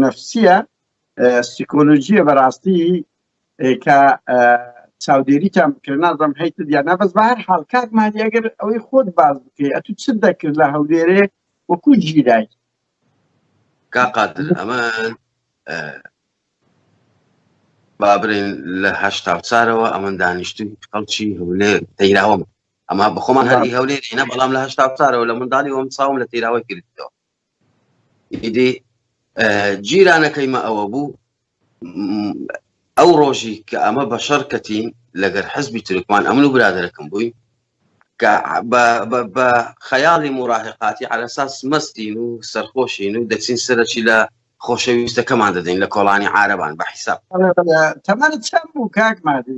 نەفسیە سیکۆلۆژیە بەڕاستی کە چاودێریتان بکرێت نازم هەیت دیانا بەس بە هەر حال کاک مادی ئەگەر ئەوەی خۆت باز بکەی ئەتو چ دەکرد لە هەولێرێ وەکو ژیرای کاقاتل ئەمە بابرێن لە هەشتا چارەوە ئەمەن دانیشتن خەڵکی هەولێر تەیراوەم ئەما بەخۆمان هەری هەولێرینە بەڵام لە هەشتا چارەوە لە منداڵی وەم چاوم لە تیراوە گرتەوە ئیدی جیرانەکەی مە ئەوە بوو ئەو ڕۆژی کە ئەمە بە شەڕ کەتین لەگەر حزبی ترکمان ئەمن و برادەرەکەم بووین کە بە خەیاڵی مراهقاتی عرەساس مەستین و سەرخۆشین و دەچین سەرچی لە خۆشەویستەکەمان دەدەین لە کۆڵانی عربان بە حیساب تەمانە چەند بوو کاک مادی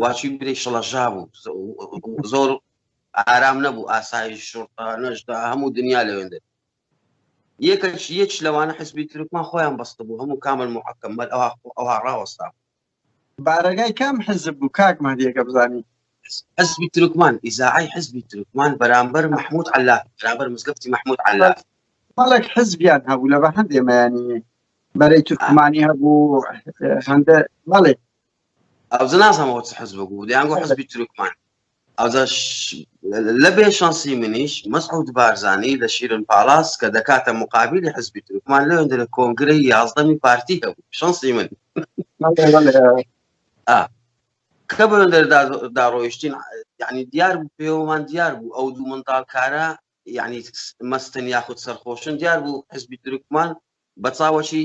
واچوین برێ شڵەژا بوو زۆر ئارام نەبوو ئاسایی شورتا نەشدا هەموو دنیا لەوێندێت یەکەش یەک لەوانە حزبی ترکمان خۆیان بەستە بوو هەموو کامل محکەممەل ئەوها ئەوها ڕاوەستا بارەگای کام حزب بوو کاک مادیەکە بزانین حزبی ترکمان ئیزاعی حزبی ترکمان بەرامبەر مححمود علا بەرامبەر مزگەفتی مححمود علا بەڵک حزبیان هەبوو لە بە هەندێمەیانی بەرەی تورکمانی هەبوو هەندە بەڵێ ئەوجە نازانم ئەوە چ حزبە بوو دەیان گۆ حزبی تورکمان ئەوجا لە بێ شانسی منیش مەسعود بارزانی لە شیرن پاڵاس کە دەکاتە مقابلی حزبی تورکمان لەوێندە لە کۆنگرەی یازدەمی پارتی هەبوو شانسی من کە بەندەر داڕۆیشتین یعنی دیار بوو پێوەمان دیار بوو ئەو دوو منداڵکارە یعنی مەستن یاخود سەرخۆشن دیار بوو حزبی ترکمان بە چاوەشی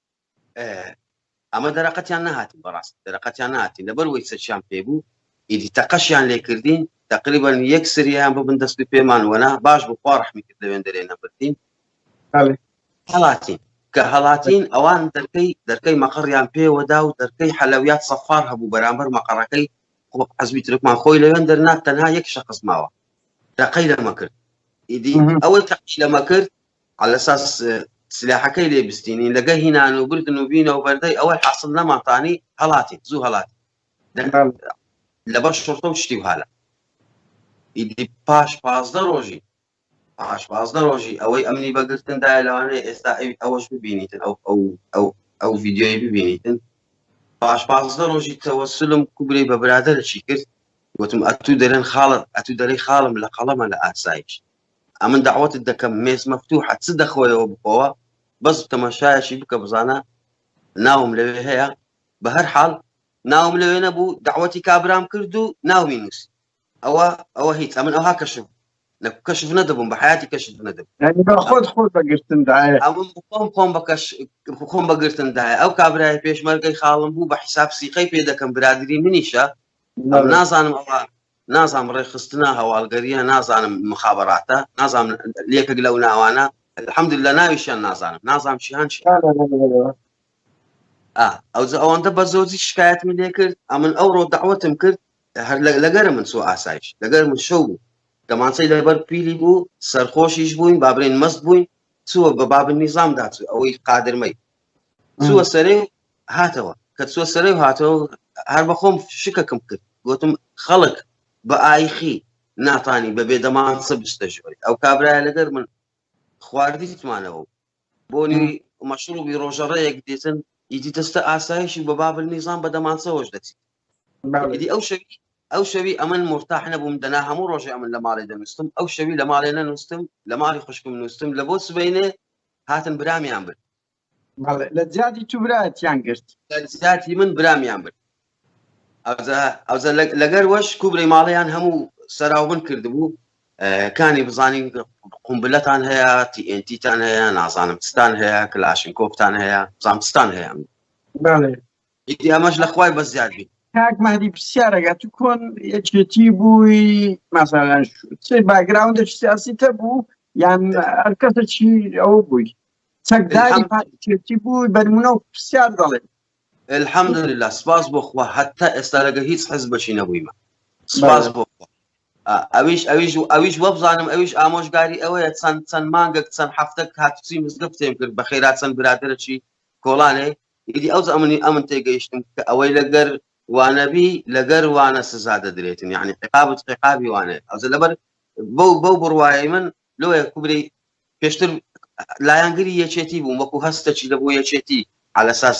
ئەمە دەرەقەتیان نەهاتین بەڕاستی دەرەقەتیان ناتین لەبەر وەی سەچیان پێ بوو ئیدی تەقەشیان لێ کردین تقریبا یەک سریان ببن دەستی پێمان وەنا باش بوو خوا ڕحمی کرد لەوێن دەرێ نەبردین هەڵاتین کە هەڵاتین ئەوان دەرکەی دەرکەی مەقڕیان پێوەدا و دەرکەی حەلەویات سەفار هەبوو بەرامبەر مەقەڕەکەی حزبی ترکمان خۆی لەوێن دەرنات تەنها یەک شخص ماوە تەقەی لەمە کرد ئیدی ئەوەی تەقی لەمە کرد عەلەساس سلاحەکەی لێ بستینین لەگە هینان و بردن و بینە و بەردەی ئەوەی حاصل نەماتانی هەڵاتین زوو هەڵات لەبەر شرتە و شتی هاە ئیدی پاش پازدە ڕۆژی پاش پازدە ڕۆژی ئەوەی ئەمنی بەگرتندا لەوانەیە ئێستا ئەوەش ببینیتن ئەو ئەو ئەو ئەو ڤیددیۆی ببینیتن پاش پازدە ڕۆژی تەوەسلم کوبرەی بە برادرەشی کرد وتم ئەتوو دەرێن خاڵت ئەتوو دەرەی خاڵم لە قەڵەمە لە ئاسایش ئەمن دەعوەتت دەکەم مێز مەفتوحە چ دەخۆیەوە بخۆوە بەس تەماشایەکی بکە بزانە ناوم لەوێ هەیە بە هەر حاڵ ناوم لەوێ نەبوو داوەتی کابرام کرد و ناومی نووس ئەوە ئەوە هیچ ئەمن ئەوها کەشف لە کەشف نەدەبووم بە حیاتی کەشف نەدەبوو خۆت خۆت بەگرتندایە خۆم خۆم بەکەش خۆم بەگرتندایە ئەو کابرای پێشمەرگەی خاڵم بوو بە حیساب سیقەی پێ دەکەم برادری منیشە نازانم ئەوە نازانم ڕێکخستنە هەواڵگەریە نازانم مخابراتە نازانم لەکێک لەو ناوانە الحمد لە ناویشیان نازانم نازانم شیان ئەو ئەوەندە بە زۆزی شکایەت من لێ کرد ئەمن ئەو ڕۆ داوەتم کرد هەر لەگەرە من سو ئاسایش لەگەر من شەو بوو دەمانچەی لەبەر پیلی بوو سەرخۆشیش بووین بابرێن مەست بووین چووە بە باب نیزام داچوو ئەوەی قادرمەی چووە سەرێ هاتەوە کە چوە سەرێ هاتەوە هەر بەخۆم شکەکم کرد گوتم خەڵک بە ئایخی ناتانی بەبێ دەمان سە بستە ژۆری ئەو کابرای لەگەر من خواردیتمانەوە بۆنی مەشروبی ڕۆژەڕەیەک دێتن ئیدی دەستە ئاسایشی بە بابل نیزان بە دەمانسەوەش دەچیت ئیدی ئەو شەوی ئەو شەوی ئەمن مرتاح نەبووم دەنا هەموو ڕۆژێ ئەمن لە ماڵێ دەنووسم ئەو شەوی لە ماڵێ نەنووسم لە ماڵی خوشکم نووسم لە بۆ سبینێ هاتن برامیان برد بەڵێ لە جیاتی تو برایەتیان گرت لە جیاتی من برامیان برد ئەوزە لەگەر وەش کوبرەی ماڵیان هەموو سەراوبن کردبوو کانی بزانین قومبلەتان هەیە تیئنتیتان هەیە نازانم ستان هەیە کلاشن کۆپتان هەیە زانستان هەیە ئیدی ئەمەش لە خوای بە زیاد بی کاک مادی پرسیارەگە تو کۆن یەکێتی بووی مەسەلەن چێ باگراوندێک سیاسی تە بوو یان هەرکەسە چی ئەو بووی چەکداری پارتیەتی بوو بەرمونە و پرسیار دەڵێ الحمد لله سپاس بۆ خوا هەتا ئێستا لەگە هیچ حز بەشی نەبوویمە سپاس بۆ ئەویش ئەویش و ئەویش وەبزانم ئەویش ئامۆژگاری ئەوەیە چەند چەند مانگەک چەند هەفتە هاتوچی مزگە پێم کرد بە خێرا چەند برادرەی کۆڵانێ ئیدی ئەو ئەمنی ئەمن تێگەیشتم کە ئەوەی لەگەر وانەبی لەگەر وانە سزا دەدرێتن یعنی عقابت عقابی وانێت ئەوزە لەبەر بەو بەو بڕواایی من لۆیە کوبرەی پێشتر لایەنگری یەکێتی بووم وەکو هەستەکی لە بۆ یەکێتی علەساس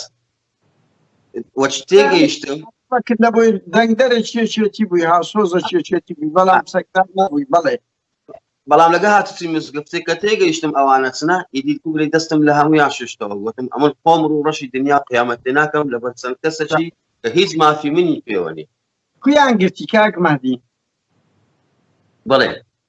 وەچ تێگەیشتم فکر لە بۆی دەنگدەرە چێچێتی بووی هاسۆزە چێچێتی بووی بەڵام سەکتار نەبووی بەڵێ بەڵام لەگە هاتوچی مزگفتی کە تێگەیشتم ئەوانە چنە ئیدی کوبرەی دەستم لە هەمویان ششتەوە وتم ئەمن خۆم ڕوو ڕەشی دنیا قیامەت تێ ناکەم لەبەر چەند کەسەکی کە هیچ مافی منی پێوەنی کویان گرتی کاک مادی بڵێ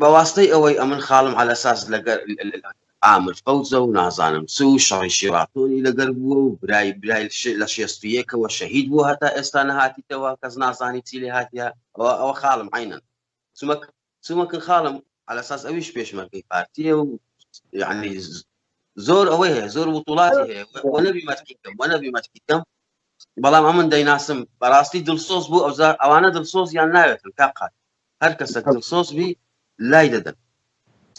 بە واستەی ئەوەی ئەمن خاڵم عەلەساس لەگەر ئامر فەوزە و نازانم چ و شەڕی شیڕاتۆنی لەگەر بووە و برای برای لە شێست و یەکەوە شەهید بووە هەتا ئێستا نەهاتیتەوە کەس نازانی چی لێ هاتیە ئەوە ئەوە خاڵم عەینەن چمەک چمەکن خاڵم عەلەساس ئەویش پێشمەرگەی پارتیە و یعنی زۆر ئەوەی هەیە زۆر وتوڵاتی هەیە وە نەبی مەتکی کەم وە نەبی مەتکی کەم بەڵام ئەمن دەیناسم بەڕاستی دڵسۆز بوو ئەوزار ئەوانە دڵسۆز یان ناوێتن تا قات هەر کەسە دڵسۆز بی لای دەدەن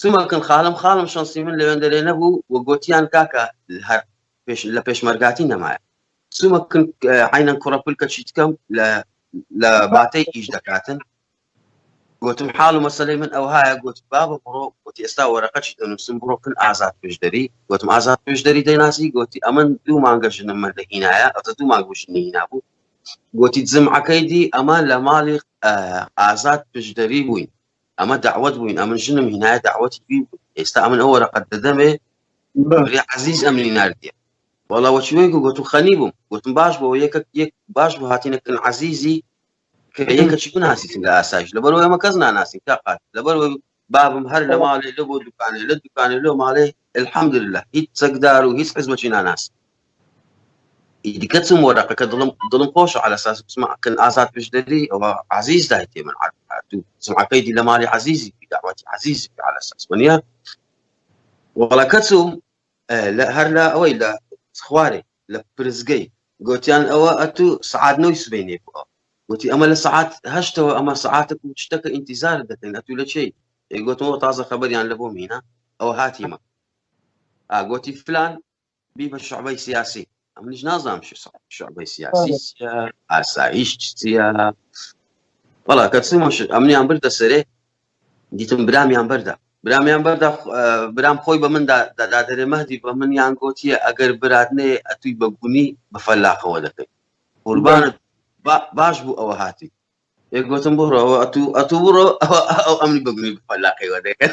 سمەکەن خاڵم خاڵم شەنسی من لەوێندەرێ نەبوو و گوتیان کاکە هەر لە پێشمەرگاتی نەمایە سومەکن عینەن کوڕەپل کە چیت کەم لە لە باتەی ئیش دەکاتن گوتم حاڵ و مەسلەی من ئەوهایە گوت بابە بڕۆ گوتی ئێستا وەرەقەچی دەنووسم بڕۆکن ئازاد پێشدەری گوتم ئازاد پێشدەری دەیناسی گوتی ئەمن دوو مانگە ژنم من دەهینایە ئەتە دوو مانگ ژنی نابوو گۆتی، جمعەکەی دی ئەمە لە ماڵی ئازاد پشدەری بووین، ئەمە دەعوەت بووین، ئەمن ژنم هینایە دەعوەتی وی بوو، ئێستا ئەمن ئەو وەرەقەت دەدەمێ برێ عەزیز ئەمنی ناردیە وەڵا وەچی وەی گوت و خەنی بووم گوتم باش بۆ یەکە یەک باش بۆ هاتینەکەن عەزیزی کە یەکەچی بناسیتن لە ئاسایش لەبەرەوە ئەمە کەس ناناسین تا قات لەبەر بابم هەر لە ماڵێ لە بۆ دوکانێ لە دوکانێ لۆ ماڵێ الحمد لله هیچ چەکدار و هیچ حزبەچی ناناس دیکە چم وە دەقەکە دڵم دڵم خۆش على ساس بسمعکن ئازاد پشدەری ئەوە عزیز دایتێ من هاتوو سمعەکەی دی لە ماڵی عزیزی داواتی عزیز على ساس وەنیە وەڵەکە چوم هەر لە ئەوەی لە خوارێ لە پرسگەی گۆتیان ئەوە ئەتوو سەعات نۆی سبەینێ بووە گۆتی ئەمە لە سەعات هەشتەوە ئەمە سەعاتە و شتەکە ئینتیزار دەکەین ئەتوو لە چی گۆتەوە تازە خەبەریان لە بۆ مینە ئەوە هاتیمە ئاگۆتی فلان بی بە شعبەی سیاسی ئەم نیش نازانام شعبەی سیاسی ئاسایش چیە بەڵا کە چمەش ئەمنیان بردە سەرێ دیتم برامیان بەردا برامیان بەردا برام خۆی بە مندا دادادەێ مەدی بە من یان گۆتیە ئەگەر برات نێ ئەتوی بە گونی بە فەلاقەوە دەکەیت قوربانت باش بوو ئەوە هاتی یەک گوتم بڕەوە ئەتو ئەتو بڕۆ ئەو ئەمنی بەگونی بە فەلاقەوە دەکەن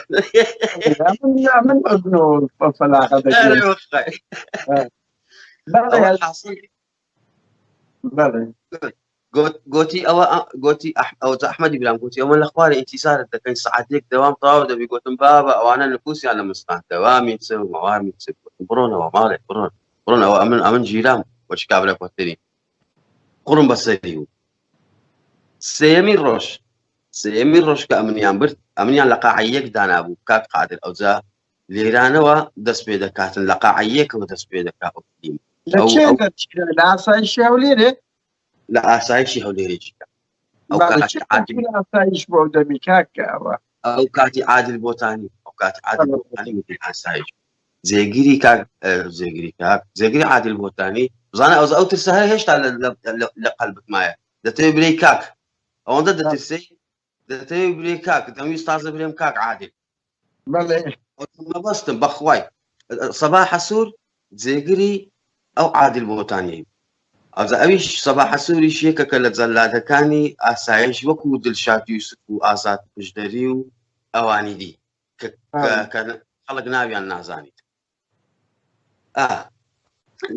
من بەگونەوە بە فەلاقە دەکەن گۆتی ئەوە گۆتی ئەوجا ئەحمەدی برام گوتی ئەوە لە خوارە ئینتیزارت دەکەین سعاتێک دەوام تەواو دەبی گوتم بابە ئەوانە نفوسیان لە مستان دەوامی چ و مەوامی چ بڕۆنەوە ماڵێک بڕۆن بڕۆنەوە ئەمن ئەمن ژیرام وەش کابرا کۆتری قڕم بەسەری و سێمی ڕۆژ سێمی ڕۆژ کە ئەمنیان برد ئەمنیان لە قاعەیەک دانابوو کاک قادر ئەوجا لێرانەوە دەست پێ دەکاتن لە قاعەیەکەوە دەست پێ دەکات لە ئاسایشی هەولێرێ لە ئاسایشی هەولێرێکی ئاسایش بۆ دەمی کاکەوە ئەو کاتی عادل بۆتانی ئەو کات عادل بۆتانی وتی ئاسایش جێگیری کاک جێگیری کاک جێگیری عادل بۆتانی بزانە ئەو ئەو ترسە هەر هێشتا لە قەلبت مایە دەتەوێت برەی کاک ئەوەندە دەترسی دەتەوێت بلێ کاک دەمویست تازە برێم کاک عادل مەبەستم بەخوای سەبا حەسوور جێگری ئەو عادل بۆتانی ئەزە ئەویش سەبا حەسووریش یەکەکە لە جەلادەکانی ئاسایش وەکو دلشات یوسف و ئازاد پشدەری و ئەوانی دی کە خەڵک ناویان نازانیت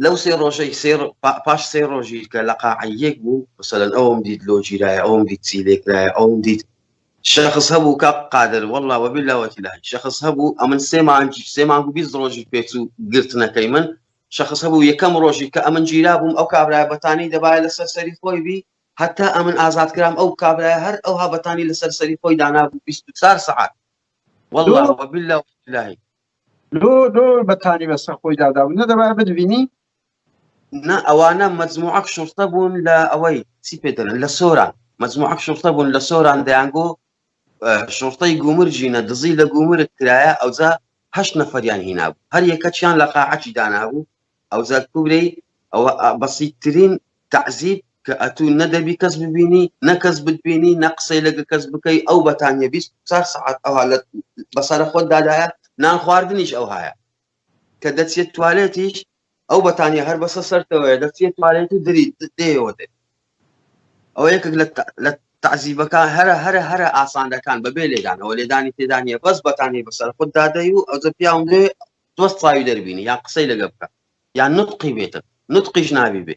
لەو سێ ڕۆژەی سێ ڕۆ- پا- پاش سێ ڕۆژی کە لە قاعەیەک بوو مثلەن ئەوم دیت لۆ گیرایە ئەوم دیت چی لێکرایە ئەوم دیت شخص هەبوو کە قادر والله وبالله وتیلاه شخص هەبوو ئەمن سێ مانگی سێ مانگ و بیست ڕۆژی پێچوو گرتنەکەی من شخص هەبوو یەکەم ڕۆژی کە ئەمن گیرا بووم ئەو کابرای بەتانی دەبایە لەسەر سەری خۆی بی هەتا ئەمن ئازاد کرام ئەو کابرای هەر ئەوها بەتانی لەسەر سەری خۆی دانابوو 24 سعات والله دوو- وبالله وتیلاه لۆ لۆ بەتانی بەسەر خۆی دادابوو نەدەبا بدبینی نا ئەوانە مەجموعەک شورتە بوون لە ئەوەی چی پێدەن لە سۆران مەجموعەک شورتە بوون لە سۆران دەیانگۆ شورتەی گومرجینە دزی لە گومرت کرایە ئەوجا هەشت نەفەریان هینابوو هەر یەکەچیان لە قاعەکی دانابوو ئەوجا کورەی ئەوە بەسیترین تەعزیب کە ئەتوو نە دەبی کەس ببینی نە کەس بتبینی نە قسەی لەگە کەس بکەی ئەو بەتانیە بیست چار سەعات ئەوها لە بەسەرە خۆت دادایە نان خواردنیش ئەو هاە کە دەچێت توالێتیش ئەو بەتانیە هەر بەسە سەرتەوەە دەچێت توالێت و دری دێەوە دێت ئەو یەکێک لە تعزیبەکان هەرە هەرە هەرە ئاسانەکان بەبێ لێدانەوە لێدانی تێدانە بەس بەتانی بەسەر خوددادەی و ئەوجە پیاوندێ دۆست چاوی دەربینی یان قسەی لەگە بکە یان نوتقی بێتە نوتقیش نابی بێ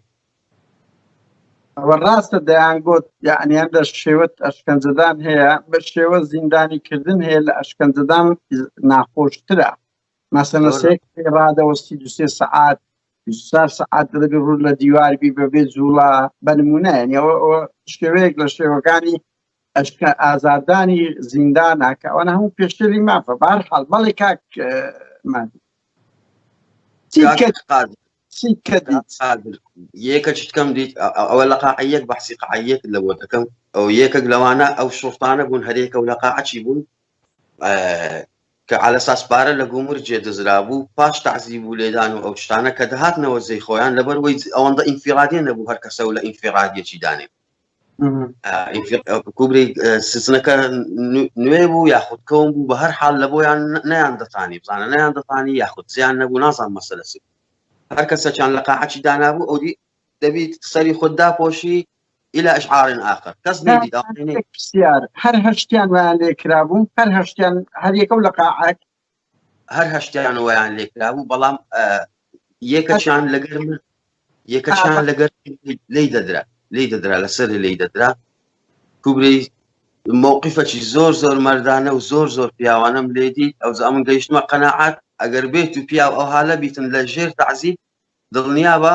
ئەوە ڕاستە دەیان گوت یعنیان لە شێوەت ئەشکەنجەدان هەیە بە شێوە زیندانی کردن هەیە لە ئەشکەنجەدان ناخۆشترە مەسەنە سێک ڕادەوەستی دوسێ سەعات سار سەعات دەبێ ڕوو لە دیواربی بەبێ جوڵا بەنمونایەنەوە شێوەیەک لە شێوەکانی ئەشکە ئازاردانی زیندانە کە ئەوانە هەموو پێشێلی مافە بار حال بەڵێ کاک مادی یەکە چتکەم دیت ئەوە لە قاعەت بەحسی قاعەت لە بۆ دەکەم ئەو یەکەک لەوانە ئەو شوفانە بوون هەرێکە و لە قاعچی بوون کە على ساس پارە لە گومر جێ دەزرا بوو پاش تعزیب و لێدان و ئەو شتانە کە دەهاتنەوە زەی خۆیان لەبەر وی ئەوەندە ئینفیرادێ نەبوو هەر کەسە و لە ئینفیرادیەکی دانێ کوبرەی سزنەکە نوێ بوو یاخود کەون بوو بە هەر حال لە بۆیان نیان دەتانی بزانە نیان دەتانی یاخود زیان نەبوو نازان مەسەلەسی هەر کەسەچان لە قاعچی دانابوو ئەودی دەبیت سەری خۆت داپۆشی إلى إشعار آخر کەس پرسیار هەر هەشتیان ویان لێ کرابوو هەر هەشتیان هەر یەکەو لە قاعەت هەر هەشتیان ویان لێکرا بوو بەڵام یەکەشان لەگەر من یەکەشان لەگەر لی دەدرا لی دەدرا لەسەر لی دەدرا کوبرەی مووقفەکی زۆر زۆر مردانە و زۆر زۆر پیاوانم لێدی ئەو زامن گەیشتمە قەنەعات ئەگەر بێت و پیاو ئەو هاالە بیتن لە ژێر تعزیب دڵنیابە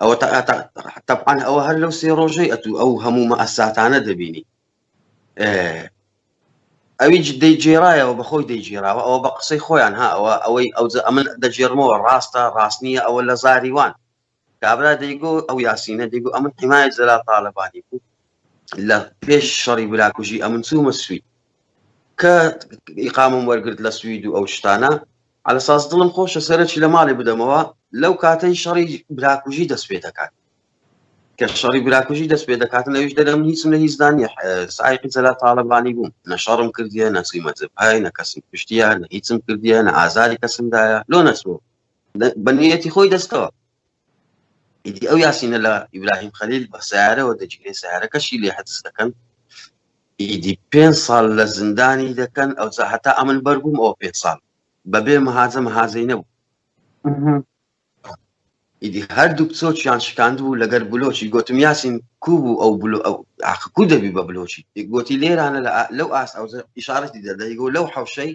ئەوە تەبعاان ئەوە هەر لەو سێ ڕۆژەی ئەتوو ئەو هەموو مەئەساتانە دەبینی ئەوی دەیگێرایەوە بەخۆی دەیگێراوە ئەوە بە قسەی خۆیان ها ئەوە ئەوەی ئەو ئەمن دەگێرمەوە ڕاستە ڕاست نییە ئەوە لە زاریوان کابرا دەیگۆ ئەو یاسینە دەیگو ئەمن حمایە زەلا تاالبانی بوو لە پێش شەڕی براکوژی ئەمن چوومە سوید کە ئیقامم وەرگرت لە سوید و ئەو شتانە عەلەساس دڵم خۆشە سەرەکی لە ماڵێ بدەمەوە لەو کاتەی شەڕی براکوژی دەست پێ دەکات کە شەڕی براکوژی دەست پێ دەکات لەویش دەرم هیچم لە هیچدا نیە سایقی جەلا تاالبانی بووم نە شەڕم کردیە نەچی مەجبهای نە کەسم پشتیە نە هیچم کردیە نە ئازاری کەسمدایە لۆ نەچوە بەنیەتی خۆی دەستەوە ئیدی ئەو یاسینە لە ئیبراهیم خەلیل بە سیارەوە دەجگرێ سیارەکەشی لێ حەدس دەکەن ئیدی پێ ساڵ لە زیندانی دەکەن ئەو هەتا ئەمن بەربووم ئەو پێ ساڵ بەبێ مەهاجە مەهازەی نەبوو ئیدی هەردوو چۆچیان شکاند بوو لەگەر بلۆچی گوتم یاسین کو بوو ئەو بلو ئەو عقکو دەبی بە بلۆچی گوتی لێرانە لەو ئاس ئەو ئشارەتی دەدەی گۆ لەو حوشەی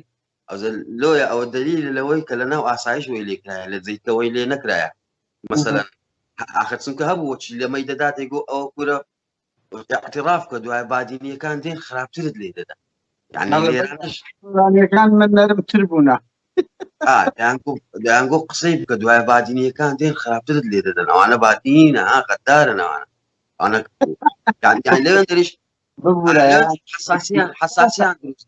ئەزە لۆیە ئەوە دەلیل لەوەی کە لە ناو ئاسایش وی لێکرایە لە جیتەوەی لێ نەکرایە مەسەلەن ئاخر چونکە هەبوو وەچی لەمەی دەداتێک گۆ ئەوە کورە اعتراف کە دوای بادینیەکان دێن خراپترت لێ دەدا یانەکان من نەرمتر بوونە دەیانگۆ قسەی بکە دوای بادینیەکان دێن خراپترت لێ دەدەن ئەوانە بادینە ها قەدارە ناوانە ئەوانە لەوێن دەریش حساسیان حساسیان دروست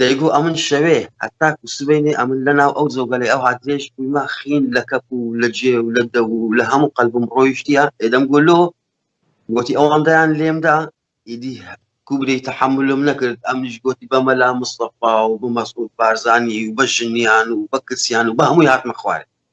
دەیگو ئەمن شەوێ هەتاکو سبەینێ ئەمن لە ناو ئەو جۆگەلەی ئەو هاترێژ بویمە خین لە کەپ و لە جێ و لە دەو و لە هەموو قەلبم ڕۆیشتیە ئێدەم گۆ لۆ گۆتی ئەوەندەیان لێم دا ئیدی کوبرەی تەحەمولم نەکرد ئەمنیش گۆتی بە مەلا مستەفا و بە مەسعود بارزانی و بە ژنیان و بە کچیان و بە هەمووی هاتمە خوارێ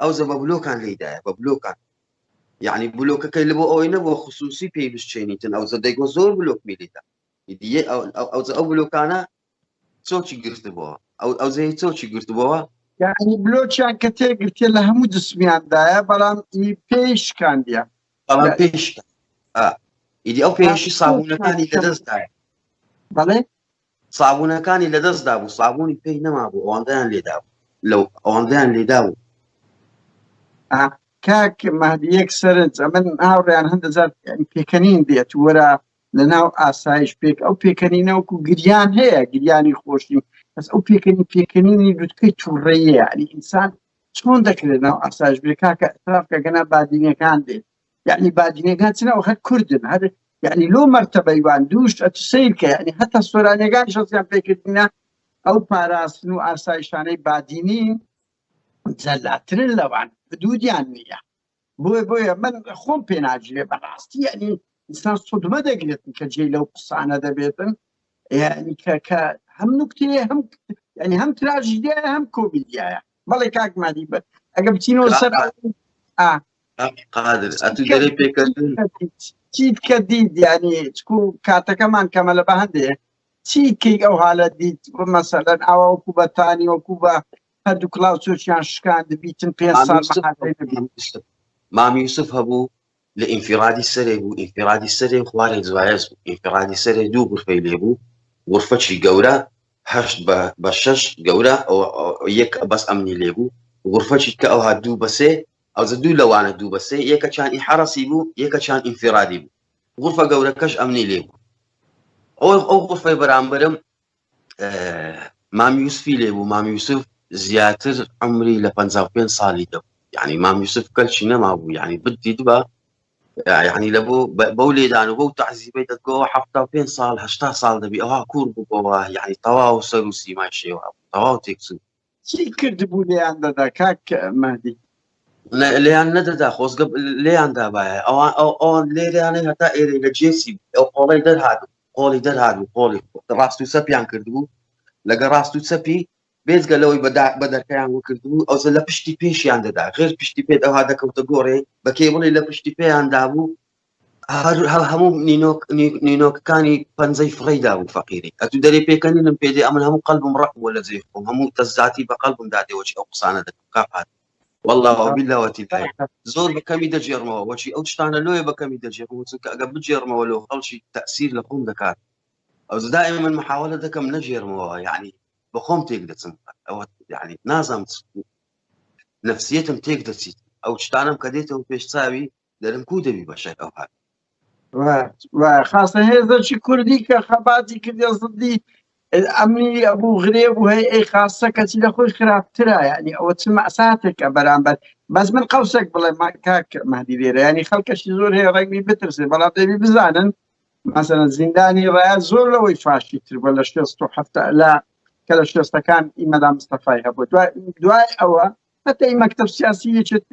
ئەوجە بە بلۆکان لێی دایە بە بلۆکان یعنی بلۆکەکەی لە بۆ ئەوەی نەبووە خصوصی پێی بشچێنیتن ئەوجە دەیگۆ زۆر بلۆک میلیدا ئەوجە ئەو بلۆکانە چۆکی گرتبووە ئەو ئەوجەی چۆکی گرتبووە یعنی بلۆکیان کە تێگرتێ لە هەموو جسمیاندایە بەڵام ئی پێی شکاندە بەڵام پێی شکاند ئیدی ئەو پێشی سابوونەکانی لەدەستدایە بەڵێ سابونەکانی لەدەست دابوو سابونی پێی نەمابوو ئەوەندەیان لێدابوو لەو ئەوەندەیان لێدابوو کاک مادیەک سەرنج ئەمن هاوڕیان هەندەزار پێکەنین دێت وەرە لە ناو ئاسایش پێک ئەو پێکەنینەوەکو گریان هەیە گریانی خۆشی بەس ئەو پێکەنی پێکەنینی لوتکەی توڕەیە ئەلی ئینسان چۆن دەکرێت ناو ئاسایش بێ کاکە ئەتراف کەگەنا بادینەکان دێت یعنی بادینەکان چنەوە هەر کوردن هەر یعنی لۆ مەرتەبەیوان دووش ئەت سیر کە یعنی هەتا سۆرانەکان شەزیان پێکردنە ئەو پاراستن و ئاسایشانەی بادینی جەلاترن لەوان دوودیان نییە بۆیە بۆیە من خۆم پێناجرێ بەڕاستی یعنی ئینسان سودمە دەگرێت کە جێ لەو قسانە دەبێتن یعنی کە کە هەم نکتێ هەم ینی هەم تراژیدە هەم کۆمیدیایە بەڵێ کاک مادی بەر ئەگە بچینەوە سەر قادر ئەتو دەرێ پێکردن چیت کە دیت یعنی چکو کاتەکەمان کەمە لە بە هەندێ چی کەی ئەو حالە دیت مەسەلەن ئاوا وەکو بە تانی وەکو بە هەردوو کلااو چۆچیان شکاند بیتن پێ سال مامیوسف هەبوو لە ئینفیڕادی سەرێ بوو، ئینفیڕادی سەرێ خوارێ جوایەز بوو، ئینفیڕادی سەرێ دوو غورفەی لێ بوو، غورفەکی گەورە هەشت بە بە شەش گەورە ئەوە یەک بەس ئەمنی لێ بوو، غورفەکی کە ئەوها دوو بە سێ، ئەوجە دوو لەوانە دوو بە سێ، یەکەکیان ئی حەڕەسی بوو، یەکەکیان ئینفیڕادی بوو، غورفە گەورەکەش ئەمنی لێ بوو. ئەوە ئەو غورفەی بەرامبەرم مام یوسفی لێ بوو مام یوسف زیاتر عمری لە 55 ساڵی دە یعنی مام یوسف کەلچی نەما بوو یعنی بدی دوبا یعنی لە بۆ بەو لێدان و بەو تعزیبەی دەگەوە ه پێ ساڵ هشتا ساڵ دەبی ئەوها کوور بووەوە یعنی تەواو سەر و سیمای شێوە تەواو تێکچوو چی کردبوو لێیان دەدا کاک مەدی لێیان نەدەدا خۆزگە لێیان دابایە ئەوان ئەو ئەوان لێریانەی هەتا ئێرە لە جێسی ئەو قۆڵی دەرهاات قۆڵی دەرهاات و قۆڵی ڕاست و سەپیان کردبوو لەگە ڕاست و سەپی بێزگە لەوەی بەدا بە دەرکەیان وکردبوو ئەوزە لە پشتی پێشیان دەدا غێر پشتی پێت ئەوها دەکەوتە گۆڕێ بەکەی بڵێ لە پشتی پێیان دابوو هەموو نینۆک نینۆکەکانی پەنجەی فڕی دابوو فەقیری ئەتو دەری پێکەنینم پێ دێ ئەمن هەموو قەلبم ڕق بووە لە جێ خۆم هەموو تەزاتی بە قەلبم دادێوەچی ئەو قسانە دەکەم کاپات والله بلەوەتی زۆر بەکەمی دەجێڕمەوە وەچی ئەو شتانە لۆیە بەکەمی دەجێڕم چونکە ئەگە بجێڕمەوە لەو خەڵکی تەسیر لە خۆم دەکات ئەو زدای من محاولە دەکەم نەجێرمەوە یعنی بە خۆم تێک دەچم ئەوە یعنی نازانم نفسیتم تێک دەچیت ئەو شتانم کە دێتەوە پێش چاوی دەرم کو دەبی بەشەر ئەو هات. و خاصە هێزەکی کوردی کە خەباتی کردە زدی ئەمنی ئەبوو غرێ بوو هەی ئەی خاصە کەچی لە خۆی خراپترە ینی ئەوە چ مەساتێکە بەرامبەر بەس من قەوسێک بڵێ کاک مادی لێرە ینی خەڵکەشی زۆر هەیە ڕێگوی بترسێ بەڵام دەبی بزانن مەسەن زیندانی ڕایە زۆر لەوەی فاشی تر بە لە شێست و هەفتە لە کە لە شێستەکان ئیمەدا مستەفای هەبوو دوای ئەوە حتى مەکتب سیاسی یەکێت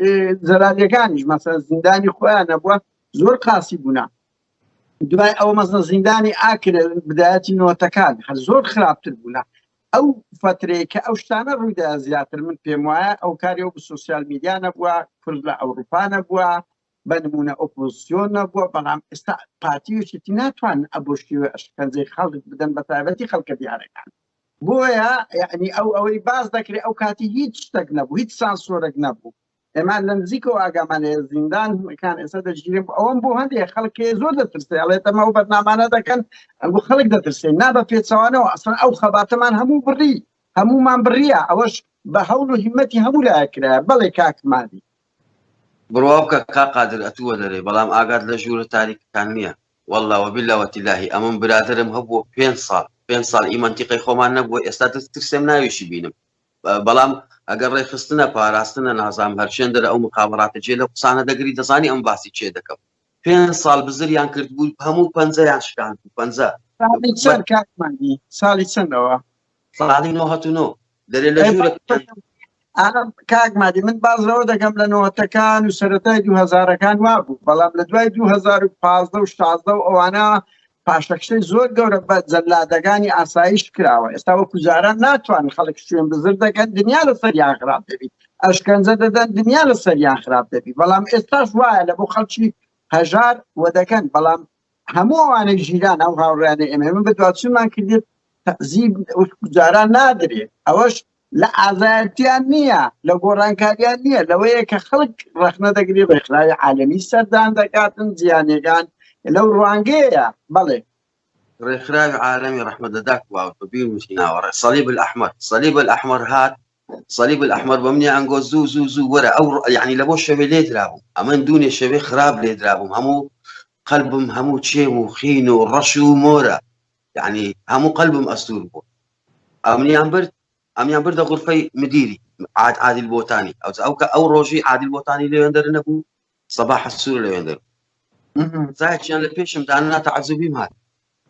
زەلالیەکانیش مەسە زیندانی خۆیان نەبووە زۆر قاسی بوونا دوای ئەو مەزە زیندانی ئاکرە بدایەتی نۆتەکان هەر زۆر خراپتر بوونا ئەو فترەیە کە ئەو شتانە ڕوویدا زیاتر من پێم وایە ئەو کاری و سوسیال میدیا نەبووە کورد لە ئەوروپا نەبووە بە نمونە ئۆپۆزیۆن نەبووە بەڵام ئێستا پارتیوشێتی ناتوان ئەبشتی و ئەشکەنجەی خەڵک بدەن بە تایبەتی خەڵکە دیارەکان بۆیە یەعنی ئەو ئەوەی باس دەکرێت ئەو کاتی هیچ شتێک نەبوو هیچ سانسۆرێک نەبوو ئێمان لە نزیکەوە ئاگامان لە زیندانەکان ئێستا دەژگیرێن ئەوەم بۆ هەندێک خەڵکێ زۆر دەترسێ ئەڵێت ئەمە ئەو بەرنامانە دەکەن بۆ خەڵک دەترسێن نا بە پێچەوانەوە ئەسڵەن ئەو خەباتەمان هەموو بڕی هەمومان بڕیە ئەوەش بە هەوڵ و هیمەتی هەموو لایەکرا بەڵێ کاکمادی بڕوا بکە کا قادر ئەتووە دەرێ بەڵام ئاگات لە ژوورە تاریکەکان نییە واللە وباللە وتللاهی ئەمن برادەرم هەبووە پێنج ساڵ پێنج ساڵ ئی مەنتیقەی خۆمان نەبووە ئێستا دەست ترسێم ناویشی بینم بەڵام ئەگەر ڕێخستنە پاراستنە نازام هەرچێن دەرە ئەو مخابڕاتە جێ لە قسانە دەگری دەزانی ئەم باسی چێ دەکەم پێنج ساڵ بزریان کرد بوو هەموو پەنجەیان شکان پەنجە ساڵی چەندەوە ساڵی نۆ هەتو نۆ دەرێ لە ژوورە ئەم کاک مادی من باز لەوە دەکەم لە نۆتەکان و سەرەتای دو هەزارەکان وابوو بەڵام لە دوای 2015 و 16 و ئەوانە پاشەکشەی زۆر گەورە بە جەلادەکانی ئاسایش کراوە ئێستا وە کوزاران ناتوان خەڵک شوێن بزر دەکەن دنیا لە سەریان خراپ دەبیت ئەشکەنجە دەدەن دنیا لە سەریان خراپ دەبی بەڵام ئێستاش وایە لە بۆ خەڵکی هەژار وە دەکەن بەڵام هەموو ئەوانەی ژیران ئەو هاوڕیانە ئێمە ئێمە بەدواچمان کردێت تەزیب جاران نادرێت ئەوەش لە ئازایەتیان نییە لە گۆڕانکاریان نییە لەوەیە کە خەڵک ڕخنە دەگری ڕێکخراوی عالمی سەردان دەکاتن زیانەکان لەو ڕوانگەیە بەڵێ ڕێکخراوی عالمی ڕحمە دەدات واوە بیر وچیناوەڕێ سەلیب ئەحمد سەلیب ئەحمەر هات صلیب الاحمر بەمنی ئەنگۆ زوو زوو زوو وەرە ئەو یعنی لە بۆ شەوێ لێ درابوو ئەمن دوونێ شەوێ خراپ لێ درابووم هەموو قەلبم هەموو چێم و خین و ڕەش و مۆرە یعنی هەموو قەلبم ئەستور بوو ئەمنیان برد ئەمیان بردە غرفەی مدیری عاد عادل بۆتانی ئەو ئەو کە ئەو ڕۆژی عادل بۆتانی لێوێندەر نەبوو سەباح السور لەوێندەر زایەکیان لە پێشم داننا تەعەزوبیم هات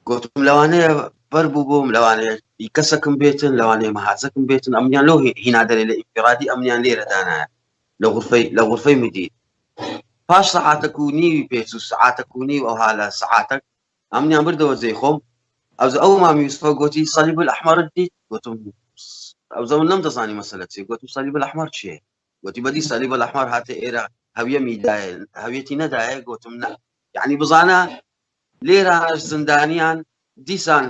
گوتم لەوانەیە بەر بوو بووم لەوانەیە کەسەکم بێتن لەوانەیە مەهازەکم بێتن ئەمیان لەو هینادەێ لە ئیفرادی ئەمیان لێرە دانایە لە غرفەی لە غرفەی مدیر پاش سەعاتەک و نیوی پێچ و سعاتەک و نیو ئەوها لە سعاتەک ئەمنیان بردەوە جێ خۆم ئەوز ئەو مامی یوسفە گوتی سەلیب ئەحمەرت دیت گوتم ئەو زەمن نەم دەزانی مەسەلە چێ گوتم سەلیب ئەحمەر چیە گۆتی بەدی سالی بە لەحمار هاتە ئێرە هەویەمی دایە هەویەتی نەدایە گۆتم نە یعنی بزانە لێرە هەر زندانیان دیسان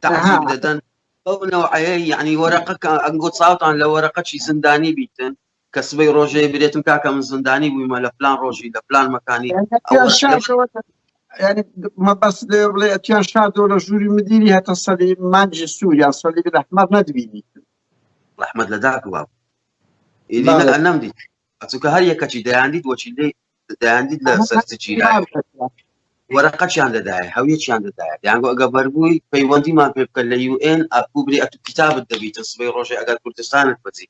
تعزیب دەدەن ئەو نەوعەیە یعنی وەرەقەکە ئەنگۆ چاوتان لە وەرەقەچی زندانی بیتن کە سبەی ڕۆژێ برێتم کاکە من زندانی بوویمە لە پلان ڕۆژی لە پلان مەکانی ینی مەبەست لێ بڵێ ئەتیان شادۆ لە ژووری مدیری هەتە سەری مانجی سووریا سەلی لەحمەر نەدبینی ڕحمەت لە داک واب ئیدی نە نەم دیت ئەچووکە هەر یەکەچی دەیاندیت وەچی لێ دەیاندیت لە سەرچی وەرەقەچیان دەدایە هەویەکیان دەدایە یانگۆ ئەگە بەربووی پەیوەندیمان پێ بکە لە یوئێن ئەکوبری ئەتو کتابت دەبیتە سبەی ڕۆژێ ئەگەر کوردستانت بەجێ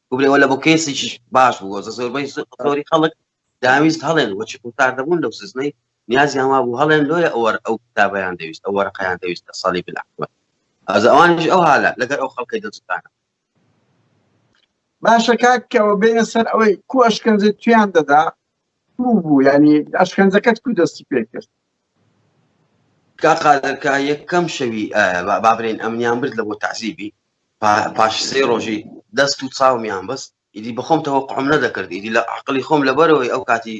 بگرێ وەلا بۆ کەسێکیش باش بووە زۆربەی زۆری خەڵک دەیانویست هەڵێن و چکوتار دەبوون لەو سزنەی نیازیان وابوو هەڵێن لۆیە ئەوەر ئەو کتابەیان دەویست ئەو وەرەقەیان دەویست لە ساڵی بلەحوە ئەزە ئەوانیش ئەو هالە لەگەر ئەو خەڵکەی دڵسوتانە باشە کاکەوە بێنە سەر ئەوەی کو ئەشکەنجە تویان دەدا کو بوو ینی ئەشکەنجەکەت کو دەستی پێ کرد کاقادەکە یەکەم شەوی بابرێن ئەمنیان برد لە بۆ تعزیبی پاش سێ ڕۆژی دەست و چاومیان بەست ئیدی بەخۆم تەوەقعم نەدەکرد ئیدی لە عقلی خۆم لەبەرەوەی ئەو کاتی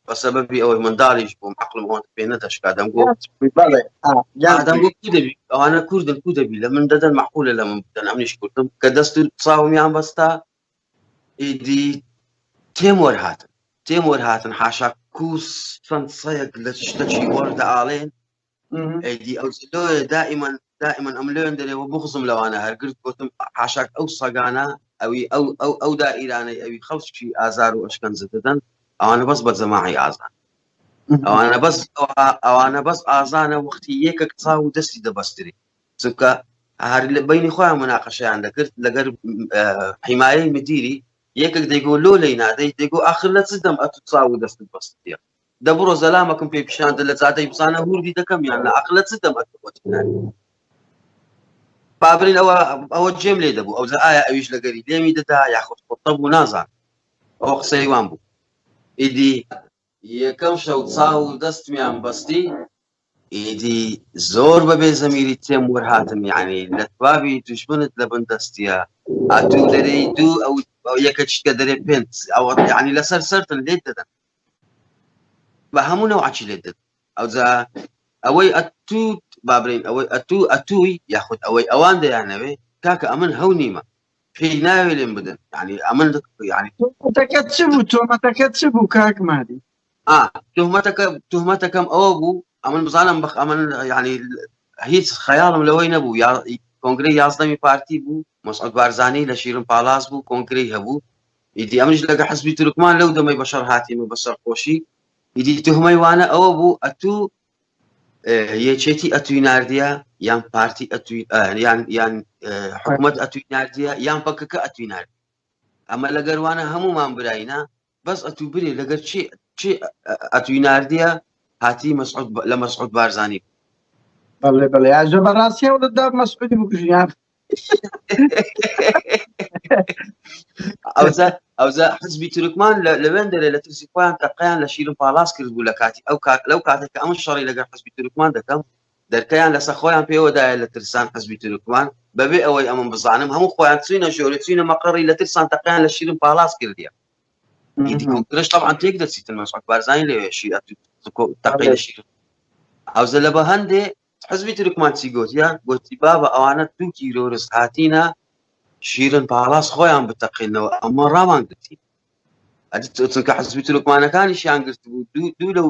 بەسەبەبی ئەوەی منداڵیش بووم عقلم ئەوەن پێ نەدەشکا دەمگۆ ئەوانە کوردن کو دەبی لە من دەدەن معقولە لە من بدەن ئەمنیش کوردم کە دەست و چاومیان بەستا ئیدی تێم وەرهاتن تێم وەرهاتن حاشا کوس چەند سەیەک لە شتەکی وەردە ئاڵێن ئەیدی ئەو دائیمەن دائیمەن ئەم لێن دەرێەوە بغزم لەوانە هەرگرت گوتم حاشاک ئەو سەگانە ئەوی ئەو ئەو ئەو دا ئیرانەی ئەوی خەڵکی ئازار و ئەشکەنج دەدەن ئەوانە بەس بە جەماعی ئازان ئەوانە بەس ئەوانە بەس ئازانە وەختی یەکە قسا و دەستی دەبەستری چونکە هەر لە بینی خۆیان مناقەشیان دەکرد لەگەر حیمایەی مدیری یەکێک دەیگۆ لۆ لی نادەی دەگۆ آخر لە چ دەم ئەت چاو و دەستت بەستە دە بڕۆ زەلامەکم پێ پیشان دە لە جادەی بزانە هور بی دەکەم یان لە عقلە چ دەم پابرین ئەوە ئەوە جێم لێ دەبوو ئەو ئایا ئەویش لەگەری لێمی دەدا یاخود قوتە بوو نازان ئەو قسەی وان بوو ئیدی یەکەم شەو چاو و دەستمیان بەستی ئیدی زۆر بەبێ زەمیری تێم وەرهاتم یعنی لە توابی دوژمنت لە بن دەستیە ئەتوو دەرەی دوو ئەو یەکە چکە دەرێ پێنج ئەوە یعنی لەسەر سەرتن لێت دەدەن بە هەموو نەوعەکی لێت دەدەم ئەوجا ئەوەی ئەتوت با بڵێین ئەوەی ئەتوو ئەتووی یاخود ئەوەی ئەوان دەیانەوێ کاکە ئەمن هەو نیمە پێی ناوێ لێم بدەن ینی ئەمن ینی تۆمەتەکە چ بوو تۆمەتەکە چ بوو کاک مادی تهمەتەکە تهمەتەکەم ئەوە بوو ئەمن بزانم بخ ئەمن ینی هیچ خەیاڵم لەوەی نەبوو یا کۆنگری یازدەمی پارتی بوو مەسعود بارزانی لە شیرن پالاس بوو کۆنگرەی هەبوو ئیدی ئەمنیش لەگە حزبی تورکمان لەو دەمەی بەشەر هاتیمە بە سەرخۆشی ئیدی تهمەی وانە ئەوە بوو ئەتوو یەکێتی ئەتوی نردە یان پارتی یان یان حکوومەت ئەتوی نردە یان پەکەکە ئەتوی نرد ئەمە لەگەروانە هەمومان براینە بەس ئەتوو برێ لەگەر چی چی ئەتوی نردە هاتی مەسعود لە مەسعود بارزانانی بەڵێ بەڵێ ئاژە بەڕاستی و دەدا مەسعودی بکوژیان ئەوزە ئەوزە حزبی تورکمان لەوێن دەرێ لە ترسی خۆیان تەقیان لە شیرم پاڵاس کرد بوو لە کاتی ئەو کات لەو کاتێک ئەم شەڕی لەگەر حزبی تورکمان دەکەم دەرکەیان لەسە خۆیان پێوەدایە لە ترسان حزبی تورکمان بەبێ ئەوەی ئەمن بزانم هەموو خۆیان چوینە ژۆری چوینە مەقڕی لە ترسان تەقیان لە شیرم پاڵاس کردیە گرش طبعا تێک دەچیتن مەسعود بارزانی لەوێ شیر تەقی لە شیرم ئەوزە لە بە هەندێ حزبی ترکمان چی گوتیە گوتی بابە ئەوانە دوو تیرۆرس هاتینە شیرن پاڵاس خۆیان بتەقینەوە ئەمە ڕامان گرتی ئەدیکە حزبی ترکمانەکانیشیان گرت بوو دوو لەو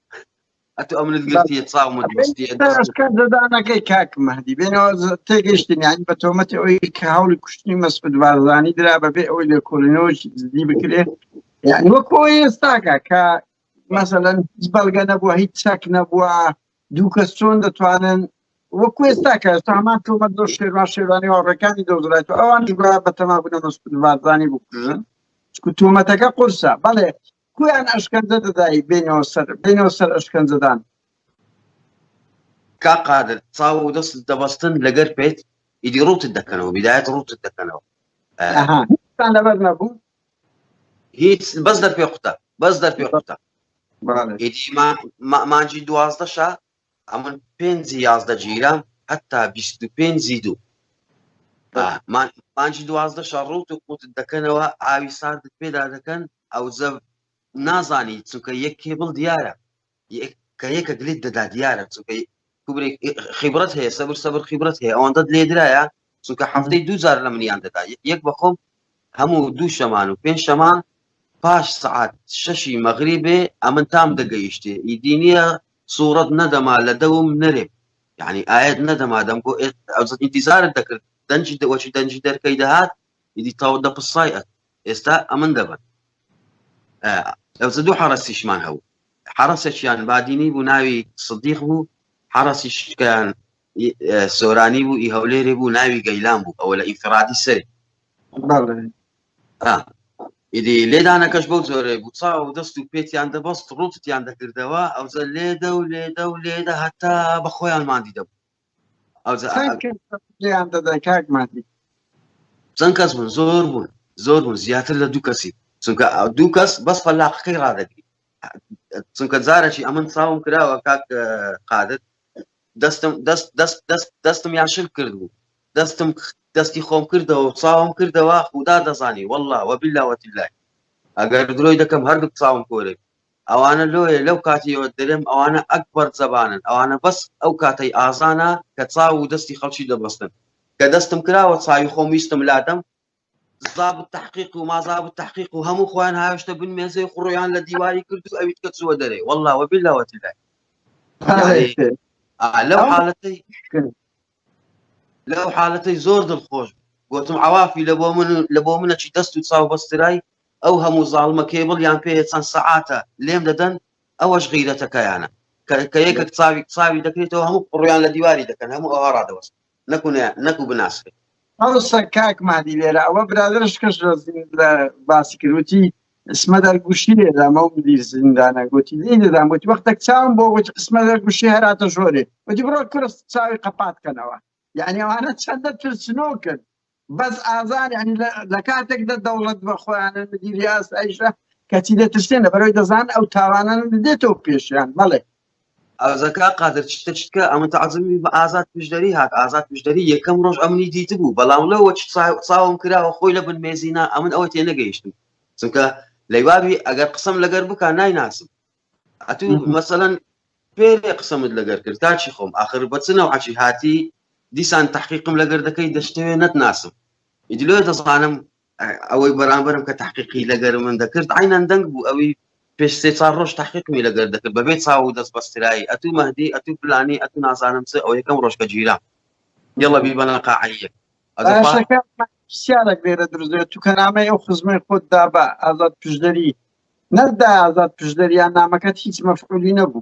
ئەتو ئەمنت گرتیە چاومت بەستی دەدانەکەی کاک مەهدی بێنەوە تێگەشتنیان بە تۆمەتی ئەوی کە هەوڵی کوشتنی مەسعود بارزانانی درا بەبێ ئەوی لێکۆڵینەوەش زدی بکرێت یعنی وەکۆ ئێستاکە کە مەسەەن هیچ بەڵگە نەبووە هیچ چەک نەبووە دوو کەس چۆن دەتوانن وەکو ئێستا کە ئێستا هەمان تۆمە دۆ شێوان شێوانی واڕەکانی دەوزرات و ئەوان گویا بە تەمابوونە مەسعود بارزانانی بکوژن تۆمەتەکە قورسە بەڵێ کویان ئەشکەنجە دەدای بێنەوە سەر بێنەوە سەر ئەشکەنجەدان کاک قادر چاو و دەست دەبەستن لەگەر پێت ئیدی ڕوتت دەکەنەوە بیدایەت ڕوتت دەکەنەوە ئەها هیچتان لەبەر نەبوو هیچ بەس دەرپێ قوتە بەس دەرپێ قوتە بەڵێ ئیدی ما- ما- مانجی دوازدەشە ئەمن پێنجی یازدە گیرام هەتا بیست و پێنجی دوو آه، ما- مانجی دوازدەشە ڕوت و قوتت دەکەنەوە ئاوی ساردت پێدا دەکەن ئەوجە نازانی چونکە یەک کێبڵ دیارە کە یەکە گلیت دەدا دیارە چونکە خیبرەت هەیە سەبر سەبر خیبرەت هەیە ئەوەندە لێدرایە چونکە هەفتەی دوجار لە منیان دەدا یەک بەخۆم هەموو دوو شەمان و پێنج شەمان پاش سعات شەشی مەغری بێ ئەمن تام دەگەیشتێ ئیدی نییە سوورەت نەدەما لە دەوم نەرێ یعنی ئاەت نەدەما دەم بۆ ئەوزت ئینتیزارت دەکرد دەنجی دەوەچی دەنجی دەرکەی دەهات ئیدی تاو دەپسای ئەت ئێستا ئەمن دەبن ئەوزە دوو حەڕەسیشمان هەبوو حەڕەسێکیان بادینی بوو ناوی سدیق بوو حەڕەسیشکیان سۆرانی بوو ئی هەولێری بوو ناوی گەیلان بوو ئەوە لە ئیفرادی سەری ئیدی لێدانەکەش بەو زۆرە بوو چاو و دەست و پێتیان دەبەست ڕوتیان دەکردەوە ئەوزە لێدە و لێدە و لێدە هەتا بە خۆیان مادی دەبوو چەند کەس بوون زۆر بوون زۆر بوون زیاتر لە دوو کەسی چونکە ئەو دوو کەس بەس فەلاقەکەی ڕادەگری چونکە جارەی ئەمن چاوم کراوە کاک قادت دەستم دەست دەست دەست دەستم یاشل کرد بوو دەستم دەستی خۆم کردەوە چاوم کردەوە خودا دەزانی والله وە بللاوەتی لای ئەگەر درۆی دەکەم هەردوو چاوم کۆرێک ئەوانە لۆیە لەو کاتەیەوە دەلێم ئەوانە ئەکبەر زەبانن ئەوانە بەس ئەو کاتەی ئازانە کە چاو و دەستی خەڵکی دەبەستن کە دەستم کراوە چاوی خۆم ویستم لادەم زاب التحقیق و مازاب التحقیق و هەموو خۆیان هاوشتە بن مێزەی قڕۆیان لە دیواری کرد و ئەویت کە چووە دەرێ والله وە بالله وە تلای لەو حالەتەی لە ئەو حالەتەی زۆر دڵخۆش بوو گۆتم عەوافی لە بۆ من لە بۆ منە چی دەست و چاو بەسترای ئەو هەموو زاڵمە کێبڵ یان پێیە چەند سەعاتە لێم دەدەن ئەوەش غیرەتەکەیانە کە کە یەکەک چاوی چاوی دەکرێتەوە هەموو قڕویان لە دیواری دەکەن هەموو ئەوها ڕادەوەست نەکوونە نەکو بناسرێت ئەوسا کاک مادی لێرە ئەوە برادرش کەش لە باسی کروتی اسمە دەر گوشی لێدامە و مدیر زیندانە گوتی لی دەدام گوتی وەختێک چاوم بۆ گوتی اسمە دەر گوشی هەراتە ژۆرێ وتی بڕۆ کورس چاوی قەپات کەنەوە یعنی ئەوانە چەندە ترسنۆ کرد بەس ئازار ینی لە کاتێک دە دەوڵەت بە خۆیانە مدیری ئاست ئەیشە کەچی دەترسێنە بەرەوەی دەزان ئەو تاوانان دێتەوە پێشیان بەڵێ ئەوزە کاک قادر چتە چتکە ئەمن تەعزمی بە ئازاد پشدەری هات ئازاد پشدەری یەکەم ڕۆژ ئەمنی دیت بوو بەڵام لەوە چاوم کراوە خۆی لە بن مێزینا ئەمن ئەوە تێ نەگەیشتم چونکە لەیوابی ئەگەر قسم لەگەر بک نایناسم ئەتو مەسەەن پێێ قسەمت لەگەر کرد تاچی خۆم آخر بەچنەوە عچی هاتی دیسان تحقیقم لەگەر دەکەی دەشتوێ نەتناسم ئیدلۆ دەزانم ئەوەی بەرامبەرم کە تحقیقی لەگەر من دەکرد عینەن دەنگ بوو ئەوی پێش سێ چار ڕۆژ تحقیقمی لەگەر دەکرد بەبێ چاو و دەست بەسترایی ئەتوو مەهدی ئەتوو پلانی ئەتوو نازانم چ ئەو یەکەم ڕۆژکە گیرا یڵە بی بەە قاعەیە سیارێک لێرە درزێت تو کەنامە ئەو خزمەی خۆت دا بە ئازاد پشدەری نەردا ئازاد پشدەریان نامەکەت هیچ مەفعولی نەبوو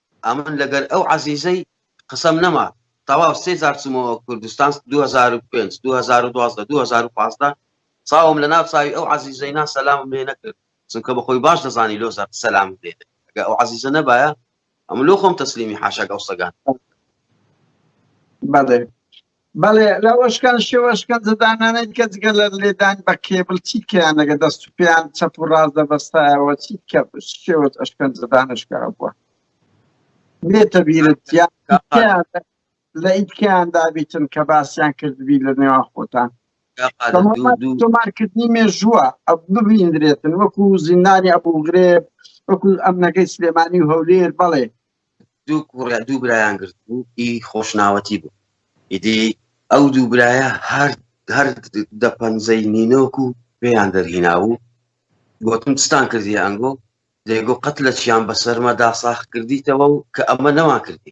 ئەمن لەگەر ئەو عەزیزەی قسەم نەما تەواو سێ جار چوومەوە کوردستان 2005 2012 2015 چاوم لە ناو چاوی ئەو عەزیزەی نا سەلامم لێ نەکرد چونکە بە خۆی باش دەزانی لۆ زار سەلام لێ ئەگە ئەو عەزیزە نەبایە ئەم لۆ خۆم تەسلیمی حاشاک ئەو سەگان بەڵێ بەڵێ لەوەشکان شێوە شکەنجەدانانەی کە جگە لە لێدان بە کێبل چی کەیان لەگە دەست و پێیان چەپ و ڕاست دەبەستایەوە چی کە شێوە ئەشکەنجەدانشکا بووە نێتە بیرت لە ئیتکیان دابیتن کە باسیان کردبی لە نێوان خۆتان تۆمارکردنی مێژووە ئەو ببیندرێتن وەکو زیندانی ئەبوو گرێب وەکو ئەمنەکەی سلێمانی و هەولێر بەڵێ دوو کوڕە دوو برایان گرت بوو ئی خۆشناوەتی بوو ئیدی ئەو دوو برایە هەر هەر دە پەنجەی نینۆک و پێیان دەرهینا و گوتم چتان کردی ئەنگۆ دەیگۆ قەت لە چیان بەسەرمەدا ساخ کردیتەوە و کە ئەمە نەوان کردی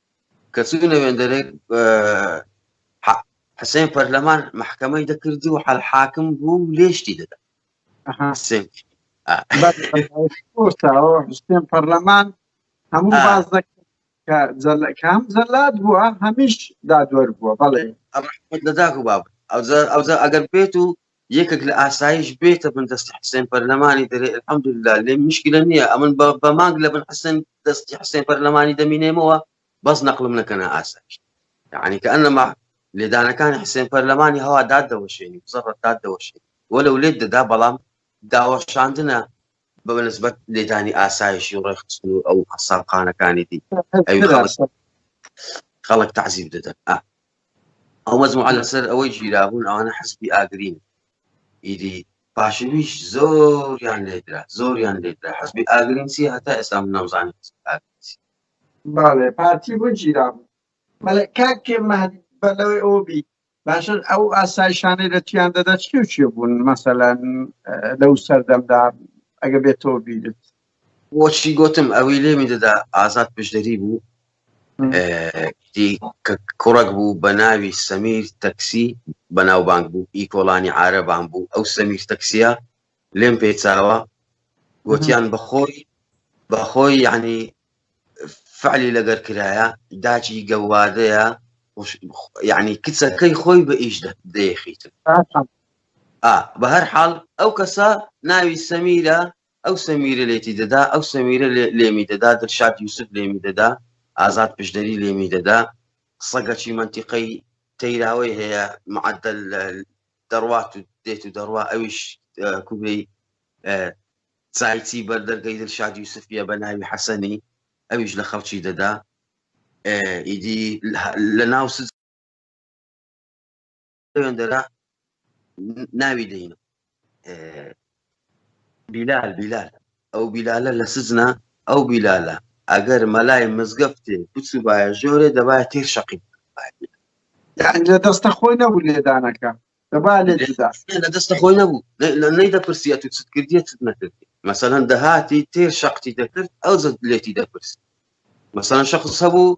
کە چوونە وێندەرێک حسێن پەرلەمان محکەمەی دەکردی و حل حاکم بوو و لێشتی دەدا ئەها. حسێن کورتەوە حسێن پەرلەمان هەموو آه. باز دەکرد کە جەل- کە هەم جەلاد بووە هەمیش دادوەر بووە بەڵێ ڕحمەت لە داک و باب ئەوجا ئەوجا ئەگەر بێت و یەکەک لە ئاسایش بێتە بن دەستی حسێن پەرلەمانی دەرێ الحمدللە لێ مشکلە نییە ئەمن بە بە مانگ لە بن حسێن دەستی حسێن پەرلەمانی دەمینێمەوە بەس نەقلم نەکەنە ئاسایش یعنی کە ئەنەما لێدانەکانی حسێن پەرلەمانی هەوا داد دەوەشێنی بزەڕەت داد دەوەشێنی وەلو لێت دەدا بەڵام داوەشاندنە بە نسبەت لێدانی ئاسایشی و ڕێکخستن و ئەو قەسابخانەکانی دی ئەوی خەڵک خەڵک تعزیب دەدەن ئا ئەو مەزموعە لەسەر ئەوەی ژیرابوون ئەوانە حەسبی ئاگرین ئیدی پاشویش زۆریان لێدرا زۆریان لێدرا حەسبی ئاگرین چی هەتا ئێستا من نەمزانی حەسبی ئاگرین چی. باڵێ پارتی بۆ گیرابوو بەڵێ کاک مەهدی بەلەوەی ئەوە بی باشە ئەو ئاسایشانەی لە چیان دەدا چی و چیە بوون مەسەلەن لەو سەردەمدا ئەگە بێتەوە بیرت بۆچی گوتم ئەوی لێمی دەدا ئازاد پشدەری بوو کە کوڕک بوو بە ناوی سەمیر تەکسی بەناوبانگ بوو ئی کۆڵانی عربان بوو ئەو سەمیر تەکسیە لێم پێچاوە گوتیان بەخۆی بەخۆی یعنی فعلی لەگەر کرایە داچی گەوادەیە یعنی کچەکەی خۆی بە ئیش دەیخیت بە هەر حاڵ ئەو کەسە ناوی سەمیرە ئەو سەمیرە لێتی دەدا ئەو سەمیرە لێمی دەدا دەرشاد یوسف لێمی دەدا ئازاد پشدەری لێمی دەدا سەگەچی منتیقەی تەیراوەی هەیە معدل دەڕوات و دێت و دەڕوا ئەویش کوێی چایچی بەر دەرگەی دلشاد یوسفیە بە ناوی حەسەنی ئەویش لە خەڵکی دەدا ئیدی لە ناو دەرا ناوی دەین بیلال بیلال ئەو بیلالە لە سزنا ئەو بیلالە ئەگەر مەلای مزگەفتێ بچ و باە ژۆرێ دەبایە تێر شەقی لە دەستە خۆی نەبوو لێدانەکە لە دەستە خۆی نەبوو لە نەی دەپرسیە تو چت کردیە چت نەکردی مەسەەن دەهاتی تێ شەقتی دەکرد ئەو زە لێتی دەپرس مەسەن شخص هەبوو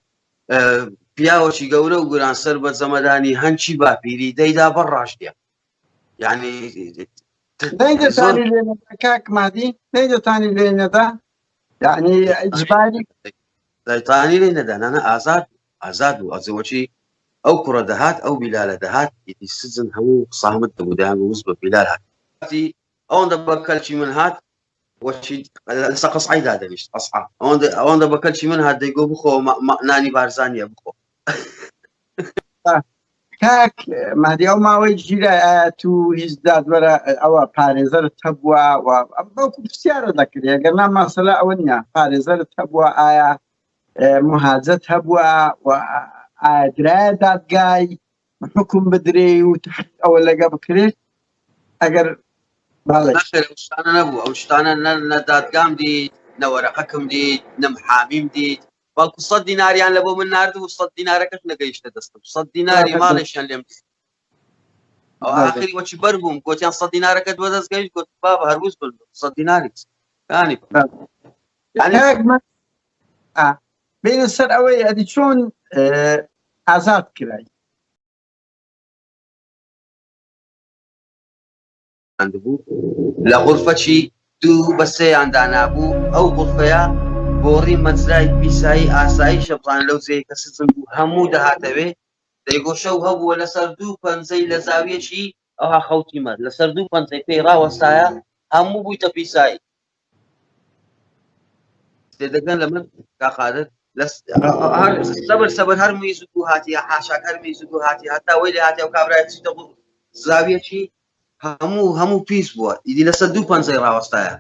پیاوەکی گەورە و گوران سەر بە زەمەدانی هەنچی باپیری دەیدا بە ڕاشتە یعنی کاک مادی نەی دەتانی لێ نەدا یعنی ئەجباری دەتانی لێ نەدانانە ئازاد ئازاد بوو ئەزێ وەچی ئەو کوڕە دەهات ئەو بیلالە دەهات ئیدی سجن هەموو سامت دەبوو دەیانگو وس بە بیلال هات تی ئەوەندە بە کەلکی من هات وەچی لەسە قەسعی دادەنیشت قەسعا ئەوەندە ئەوەندە بە کەلکی من هات دەیگۆ بخۆ نانی بارزانیە بخۆ کاک مادی ئەو ماوەی ژیرە تو هیچ دادوەرە ئەوە پارێزەرت هەبووە و بەڵکو پرسیارە دەکرێت گەرنا ماسەلا ئەوە نیە پارێزەرت هەبووە ئایا مهاجەت هەبووە و ئاگرایە دادگای حکم بدرێ و ئەوە لەگە بکرێت ئەگەر شتانە نەبوو ئەو شتانە نە دادگام دی نەوەرەقەکم دی نەم حامیم دیت بەڵکو سە دیناریان لە بۆ من نرد و سە دینارەکەش نەگەیشتە دەستم سە دیناری ماڵێکیان لێم ئاخری وەچی بەر بووم گوتیان سە دینارەکە دووە دەست گەویت گوت با بە هەروز بن سە دیناریت کانی بینە سەر ئەوەی ئەدی چۆن ئازاد کرای دانراندبوو لە غورفەچی دوو بە سێیان دانابوو ئەو غورفەیە گۆڕی مەجرای پیسایی ئاسایی شەپڵان لەو جێی کە سزم بوو هەموو دەهاتەوێ دەیگۆشە و هەبووە لەسەر دوو پەنجەی لە زاویەکی ئەوها خەوتیمە لەسەر دوو پەنجەی پێی ڕاوەستایە هەموو بوویتە پیسایی دەگەن لە من کاخالت سەبر سەبر هەر میز و هاتی حاشاک هەر میز و هاتی هەتا وی لە هاتی و کابرای چیتە بوو زاویەکی هەموو هەموو پیس بووە ئیدی لە سەد دوو پەنجەی ڕاوەستایە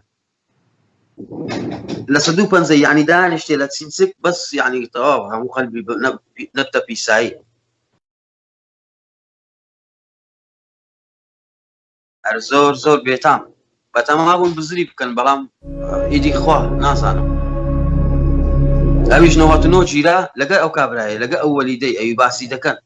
لە سەد دوو پەنجە یعنی دانیشتێ لە چینسک بەس یعنی تەواو هەموو قەلبی نەتە پیسایی هەر زۆر زۆر بێتام بەتەما بوون بزری بکەن بەڵام ئیدی خوا نازانم ئەویش نەوەت نۆ گیرا لەگەر ئەو کابراایە لەگە ئەو وەلیدەی ئەوی باسی دەکەن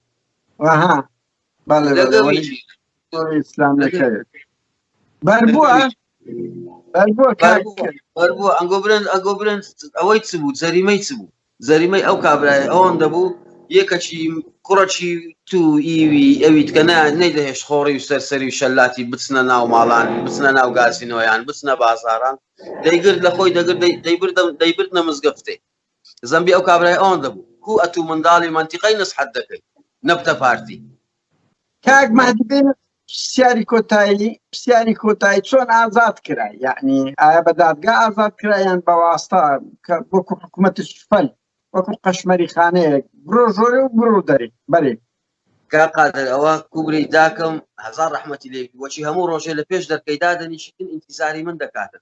ئەنگۆ برن ئەگۆ برن ئەوەی چ بوو جەریمەی چ بوو زەریمەی ئەو کابرایە ئەوەندە بوو یێ کەچی کوڕەکی تو ئیوی ئەویتکە نە نەیدەهێشت خۆڕی و سەرسەری و شەلاتی بچنە ناو ماڵان بچنە ناو گازینۆیان بچنە بازاڕان دەیگرت لە خۆی دەگرت دەی دەیبردم دەیبردنە مزگەفتێ زەمبی ئەو کابرای ئەوەندە بوو کو ئەتوو منداڵی مەنتیقەی نسحەت دەکەی نەبتە پارتی کاک مەهدی بێ پرسیاری کۆتایی پرسیاری کۆتایی چۆن ئازاد کرا یعنی ئایا بە دادگا ئازاد کرا یان بە واستا کە وەکو حکوومەتی سوپەل وەکو قەشمەری خانەیەک برۆ ژۆرە و برو دەری بەرێ کا قادر ئەوە کوبری داکەم هزار ڕحمەتی لێ وەچی هەموو ڕۆژێ لە پێش دەرکەی دادەنیشتن ئینتیزاری من دەکاتن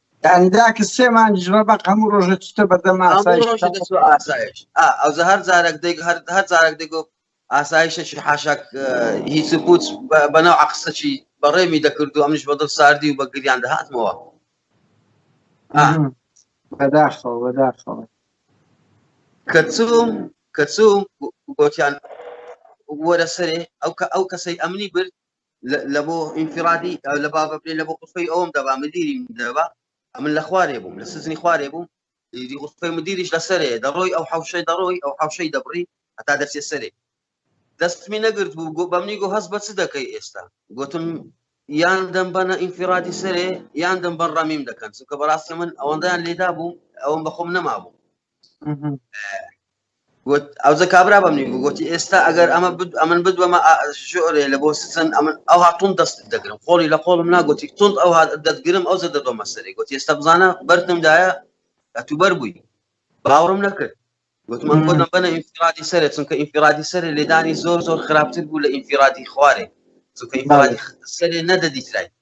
یانی داک سێ مانگ ژمە بەق هەموو ڕۆژە چتە بەردەم ئاسایش ئاسایش ئەو هەر جارێک دەیک هەر هەر جارێک دەگو ئاسایشەکی حاشاک هیچ پوچ بەناو عقسەکی بەڕێمی دەکرد و ئەمش بەدڵ ساردی و بە گریان دەهاتمەوە بەداخەوە بەداخەوە کەچوم کەچوم گۆتیان وەرە سەرێ ئەو کە ئەو کەسەی ئەمنی برد لە بۆ ئینفرادی لە بابە بێ لە بۆ قسەی ئەوم دەبا مدیری دەبا ئەمن لە خوارێ بووم لە سزنی خوارێ بووم دی قسەی مدیریش لە سەرێ دەڕۆی ئەو حوشەی دەڕۆی ئەو حوشەی دەبڕی هەتا دەچێ سەرێ دەستمی نەگرت بوو گۆ بەمنی گۆ هەست بە چ دەکەی ئێستا گوتم یان دەم بەنە ئینفرادی سەرێ یان دەم بەر ڕەمیم دەکەن چونکە بەڕاستی من ئەوەندەیان لێدا بوو ئەوم بەخۆم نەما بوو گوت ئەوجە کابرا بە منی بگوتی ئێستا ئەگەر ئەمە ئەمن بدوەمە ژۆرێ لە بۆ سزن ئەمن ئەو هاتون دەست دەگرم خۆڵی لە قۆڵم ناگوتی تون ئەو دەتگرم ئەو زە دەدۆمە سەری گوت ئێستا بزانە بەرتم دایە ئەتو بەر بووی باوەڕم نەکرد گوتمان بۆ نەبەنە ئینفرادی سەرێ چونکە ئینفرادی سەرێ لێدانی زۆر زۆر خراپتر بوو لە ئینفرادی خوارێ چونکە ئینفرادی سەرێ نەدەدیترای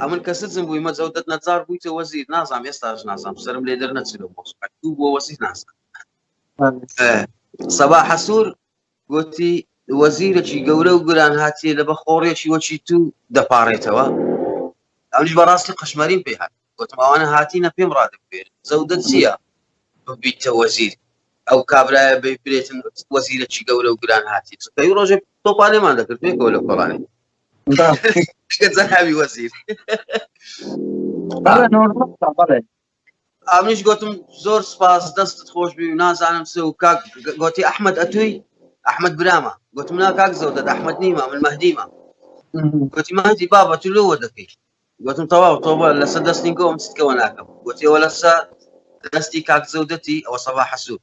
ئەمن کە سزم بووی مەزەو دەت نەجار بوویتە وەزیر نازام ئێستاش نازام سرم لێ دەر نەچێت لە مۆز دوو بۆ وەزیر نازان سەبا حەسوور گوتی وەزیرەکی گەورە و گران هاتیە لە بەخۆڕێکی وەکی تو دەپارێتەوە ئەوش بەڕاستی قشمەریم پێ هات گوتماوانە هاتیینە پێم ڕادبێت زەودە چییە ببیتە وەزیر ئەو کابراە ببرێتن وەزیرەکی گەورە و گران هاتی ڕۆژێ تۆپانێمان دەکرد پێکەوە لە کۆڵانی زەناوی وەزیر ئامیش گوتم زۆر سپاس دەستت خۆش بی و نازانم سێ و کاک گوتی ئەحمد ئەتوی ئەحمد برامە گوتم نا کاک زەوت دەت ئەحمد نیمە من مەدیمە گوتی مادی بابە تو لەوە دەکەی گوتم تەواو تۆبە لەسە دەستنی گۆم ستکەوە ناکەم گوتیەوە لەسە دەستی کاک زەودەتی ئەوە سەبا حەسوود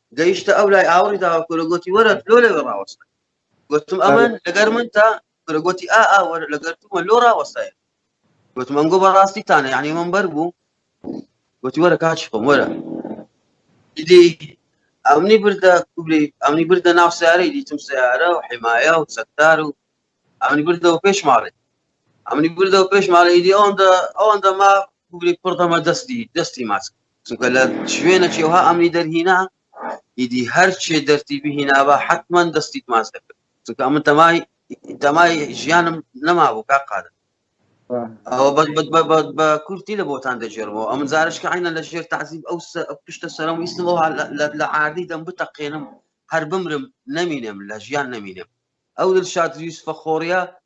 گەیشتە ئەو لای ئاوڕی داوە کورە گوتی وەرە لۆ لەوێ ڕاوەستە گوتم ئەمن لەگەر من تا کورە گوتی ئا ئا وەرە لەگەر تومە لۆ ڕاوەستایە گوتم ئەنگۆ بەڕاستی تانە یعنی من بەر بوو گوتی وەرە کاچی خۆم وەرە دیدی ئەمنی بردە کوبری ئەمنی بردە ناو سیارەی دیتم سیارە و حمایە و سەکتار و ئەمنی بردەوە پێش ماڵێ ئەمنی بردەوە پێش ماڵی دی ئەوەندە ئەوەندە ما کوبری پڕدەمە دەستی دەستی ماچ چونکە لە شوێنەکی ئەوها ئەمنی دەرهینا ئیدی هەرچێ دەرتی بهینابا حتمما دەستیت ماچ دەکرد چونکە ئەمن تەمای تەمای ژیانم نەمابوو کا قادە ئەوە بە کورتی لە بۆتان دەژێرەوە ئەم زارشکە عینە لە ژێر تعزیب ئەو پشتە سەرم ویستەوە لە عادی دەم بتەقێنم هەر بمرم نەمینێم لە ژیان نەمینێم ئەو دل شاد یوسفە خۆڕە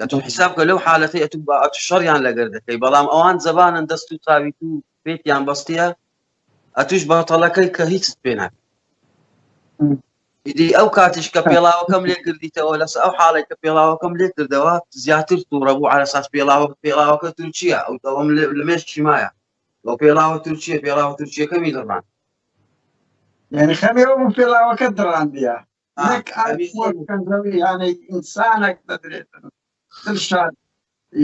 ئەتوو حساب کە لەو حالەتی ئەتوو با ئەتو شەڕیان لەگەر دەکەی بەڵام ئەوان زەبانن دەست و تاوی تو پێتیان بەستە ئەتوش بەتەڵەکەی کە هیچ پێ ناکە ئیدی ئەو کاتیش کە پێڵاوەکەم لێ کردیتەوە لەس ئەو حاڵێک کە پێڵاوەکەم لێ کردەوە زیاتر تووڕە بوو ئارەساس پێڵاوە پێڵاوەکە تورکیە ئەو دەوەم لە مێش چیمایە بۆ پێڵاوە تورکیە پێڵاوە تورکیەکەمی دەڕان یعنی خەمێەوە بوو پێڵاوەکە دڕاندە نەک ئاوییەک کە زەوی هانەی ئینسانەک دەدرێتن دڵشاد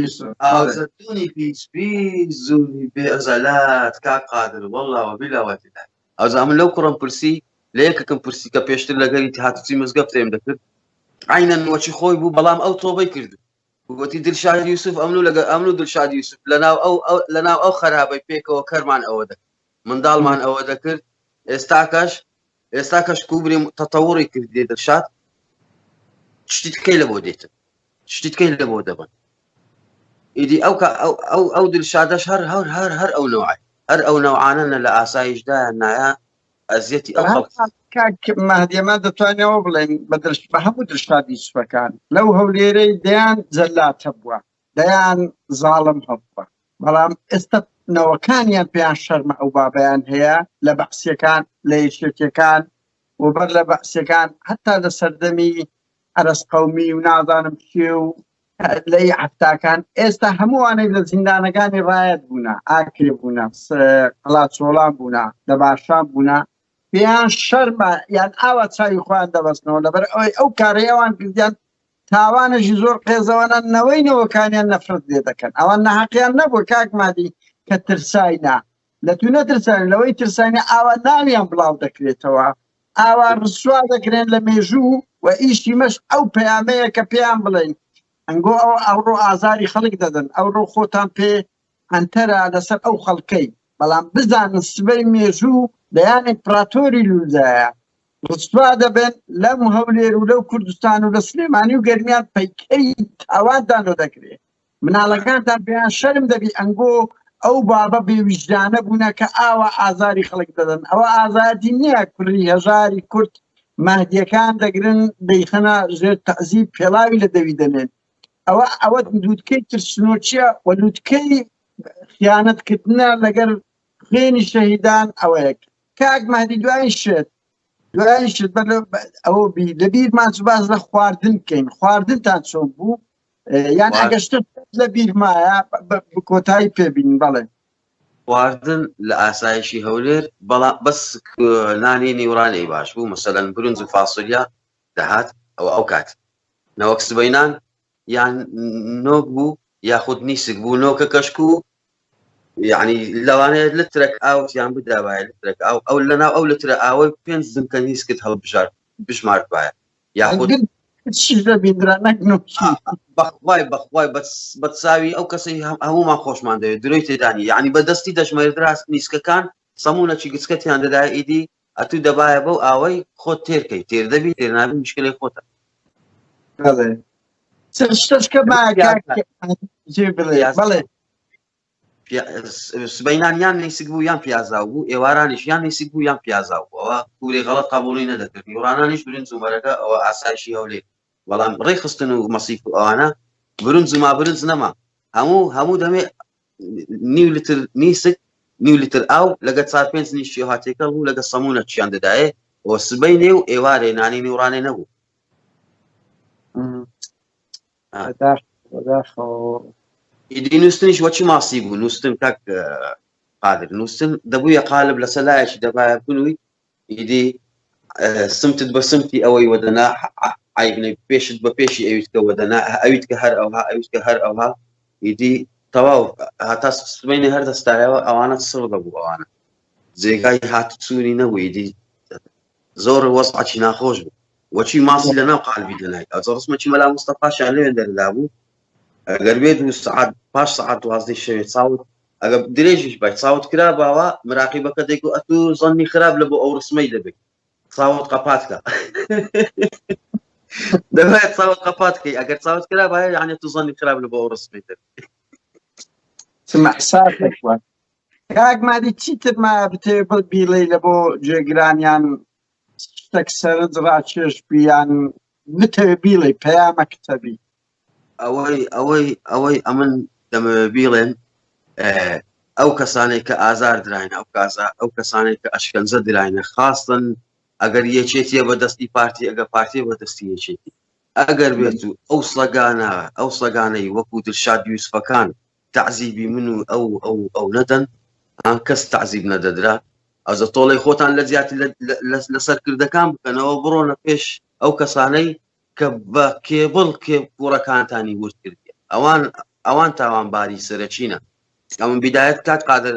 یوسف. ئاوزەتونی پیس پیس زۆری بێ ئەزەلات کاک قادر واللە وبیلا وتیلا ئەوجا من لەو کوڕم پرسی لە یەکەکەم پرسی کە پێشتر لەگەری هاتوچی مزگەفتێم دەکرد عینەن وەچی خۆی بوو بەڵام ئەو تۆبەی کرد وتی دلشاد یوسف ئەمنو لەگە ئەمنو دلشاد یوسف لەناو ئەو لەناو ئەو خەرابەی پێکەوە کەرمان ئەوە دەکرد منداڵمان ئەوە دەکرد ئێستاکەش ئێستا کەش کوبرێ تەتەوڕی کردێ دەشات شتیت کەی لە بۆ دێتن شتیت کەی لە بۆ دەبن ئیدی ئەو ئەو ئەو دلشادەش هەر هەر هەر هەر ئەو نەوەی هەر ئەو نەوانە لە ئاسایشدا نایە ئەزیەتی ئەو مادیەما دەتوانەوە بڵێن بە درشت بە هەموو درشادی سوەکان لەو هەولێرەی دەیان جەلاتە بووە دەیان زاڵم هەبووە بەڵام ئێستا نەوەکانیان پێیان شەرمە ئەو بابەیان هەیە لە بەعسیەکان لە یەکێتیەکان و بەر لە بەعسیەکان هەتا لە سەردەمی عەرەس قەومی و نازانم کێ و لەی عەفتاکان ئێستا هەمووانەی لە زیندانەکانی ڕایەت بوونە ئاکرێ بوونە قەڵاچۆڵان بوونە لە باشان بوونە پێیان شەرمە یان ئاوا چاوی خۆیان دەبەستنەوە لەبەر ئەوەی ئەو کارەی ئەوان کردیان تاوانێکی زۆر قێزەوەنە نەوەی نەوەکانیان نەفرەت لێ دەکەن ئەوان نەحەقیان نەبوو کاک مادی کە ترساینا لە تو نەترسان لەوەی ترسانی ئاوا ناویان بڵاو دەکرێتەوە ئاوا ڕسوا دەکرێن لە مێژوو و ئیشی مەش ئەو پەیامەیە کە پێیان بڵێن ئەنگۆ ئەو ئەوڕۆ ئازاری خەڵک دەدەن ئەوڕۆ خۆتان پێ قەنتەرە لەسەر ئەو خەڵکەی بەڵام بزانن سبەی مێژوو دەیان ئیمپڕاتۆری لوولدایە ڕسوا دەبن لەم هەولێر و لەو کوردستان و لە سلێمانی و گەرمیان پەیکەری تاوانتان لۆ دەکرێ مناڵەکانتان پێیان شەرم دەبی ئەنگۆ ئەو بابە بێویژدانە بوونە کە ئاوا ئازاری خەڵک دەدەن ئەوە ئازادی نییە کوری هەژاری کورد مەهدیەکان دەگرن دەیخەنە ژێر تەعزیب پێڵاوی لە دەوی دەنێن ئەوە ئەوە لووتکەی ترسنۆچیە و لووتکەی خیانەتکردە لەگەر خوێنی شەهیدان ئەوەیە کاک مادی دوای شێت دوای شت بەر ئەوە بی لە بیرمان باز لە خواردن بکەین خواردنتان چۆن بوو یان ئەگەشت لە بیرمایە کۆتایی پێبین بەڵێ خواردن لە ئاسایشی هەولێر بەڵام بەس نانی نیورانەی باش بوو مەسەەن برنج و فاسۆلیا دەهات ئەوە ئەوکات نەوەک سبەینان یان نۆک بوو یاخود نیسک بوو نۆکە کەشک و یعنی لەوانەیە لە ترەک ئاوتیان بدابایە لە ترەک ئاو ئەو لەناو ئەو لە ترە ئاوەی پێنج زنکە نیسکت هەڵبژار بژمارت وایە یاخود بەخوای بەخوای بەساوی ئەو کەسی هەمومان خۆشمان دەوێت درۆی تێدانی یعنی بەدەستی دەژمێردراست نیسکەکان سەمونەچی گچکەتیان دەدا ئیدی ئەتوو دەبایە بەو ئاوەی خۆت تێر کەی تێر دەبی تێر نابی مشکلەی خۆتە بەڵێ چەند شتەش کە با کاک جێ بڵێ پیاز. بەڵێ پیا- س- سبەینان یان نیسک بوو یان پیازاو بوو ئێوارانیش یان نیسک بوو یان پیازاو بوو ئەوە کوری غەڵەت قبوڵی نەدەکرد یوڕانانیش برنج و مەرەگە ئەوە ئاسایشی هەولێ بەڵام ڕێخستن و مەسیف و ئەوانە برنج و ما برنج نەما هەموو هەموو دەمێ نیو لتر نیسک نیو لتر ئاو لەگە چار پێنج نیشتی و هاتێکە بوو لەگە سەمونە چیان دەدایێ و سبەی نێ و ئێوارێ نانی نیورانێ نەبوو ئیدی نووسنیش وەچی ماسی بوو نووسن کاک قادر نووسن دەبوویە قالب لەسەر لایەکی دەبایە بنووی ئیدی سمتت بە سمتی ئەوەی وەدەنا عیبنەی پێشت بە پێشی ئەویتکە وەدەنا ئەویت کە هەر ئەوها ئەویت کە هەر ئەوها ئیدی تەواو هاتا سبینە هەر دەستایەوە ئەوانە سڕ دەبوو ئەوانە جێگای هات سووری نەبوو ئیدی زۆر وەسعچی ناخۆش بوو وەچی ماسی لە ناو قالبی دەنای ئەو ڕسمەکی مەلا مستەفاشیان لەوێن دەردا بوو گەربێت و سعات پاش سعات دوازدەی شەوێ چاوت ئەگە درێژیش بای چاوت کرا باوە مراقیبەکە دەیکو ئەت و زەنی خراپ لە بۆ ئەو ڕسمەی دەبێت چاوت قەپاتکە دەبێت چاوت قەپاتکەی ئەگەر چاوت کرا باە یانە تو زەنی خراپ لە بۆ ئەو ڕسمی دەبێت سمەحساب کاک مادی چیتر ما بتێ بڵ بیڵێ لە بۆ جێگرانیان شتەک سەرنج ڕاکێش بی یان بتەوێ بیڵێی پەیامە کتەبی ئەوەی ئەوەی ئەوەی ئەمن دەمەوێ بیڵێن ئەو کەسانێک کە ئازار دراینە ئەو کازا ئەو کەسانێک کە ئەشکەنجە دراینە خاستن ئەگەر یەکێتیە بە دەستی پارتی ئەگە پارتی بە دەستی یەکێتی ئەگەر بێت و ئەو سەگانە ئەو سەگانەی وەکو دلشاد یوسفەکان تەعزیبی من و ئەو ئەو ئەو نەدەن ها کەس تەعزیب نەدەدرا ئەزە تۆڵی خۆتان لە زیات لە سەرکردەکان بکەنەوە بڕۆنە پێش ئەو کەسانەی کە بە کێبڵ کێ کوڕەکانتانی ورد کردی ئەوان ئەوان تاوانباری سەرەکیینە ئەمن بدایەت کات قادر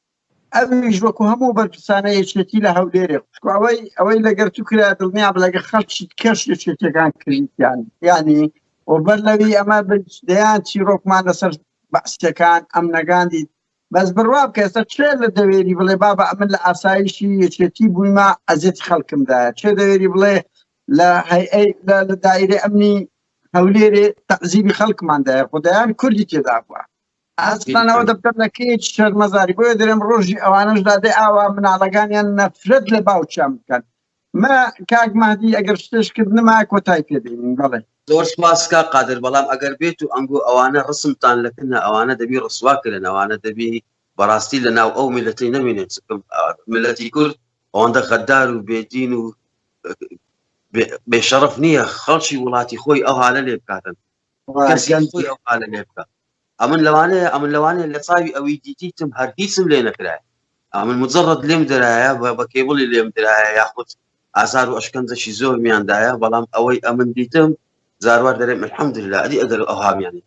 ئەویش وەکو هەموو بەرپرسانە یەکێتی لە هەولێرێ خوشکو ئەوەی ئەوەی لەگەر تو کرا دڵنیا بە لەگە خەڵکی کەش یەکێتەکان کردیان یانی و بەر لەوی ئەمە دەیان چیرۆکمان لەسەر بەعسەکان ئەمنەگاندی بەس بڕوا بکە ئێستا چێ لە دەوێری بڵێ بابە ئەمن لە ئاسایشی یەکێتی بوویمە ئەزێت خەڵکمدایە چێ دەوێری بڵێ لە هەیئەی لە دایرە ئەمنی هەولێرێ تەعزیبی خەڵکماندایە خدایان کوردی تێدا بووە ئاسان ئەوە دەبکەم لە کێچ شەرمەزاری بۆیە دەرێم ڕۆژی ئەوانەش دادێ ئاوا مناڵەکانیان نەفرەت لە باوچیان بکەن ما کاک مادی ئەگەر شتێش کردنما کۆتای پێدەین بەڵێ زۆر سپاس کا قادر بەڵام ئەگەر بێت و ئەنگۆ ئەوانە ڕسمتان لەکنە ئەوانە دەبی ڕسواکرن ئەوانە دەبی بەڕاستی لە ناو ئەو میلەتی نەمێنێت ملەتی کورد ئەوەندە غەدار و بێدین و بێشەرف نییە خەڵکی وڵاتی خۆی ئەو هاالە لێ بکاتن ئەمن لەوانەیە ئەمن لەوانێ لە چاوی ئەوی دیتیتم هەر هیچم لێ نەکرای ئەمن مجرڕت لێم درایە بە کێبڵی لێم درایە یاخود ئازار و ئەشکەنجەشی زۆر میاندایە بەڵام ئەوەی ئەمن دیتم زاروار دەرێ مەحمد لە ئەدی ئەگەر ئەوهامیانی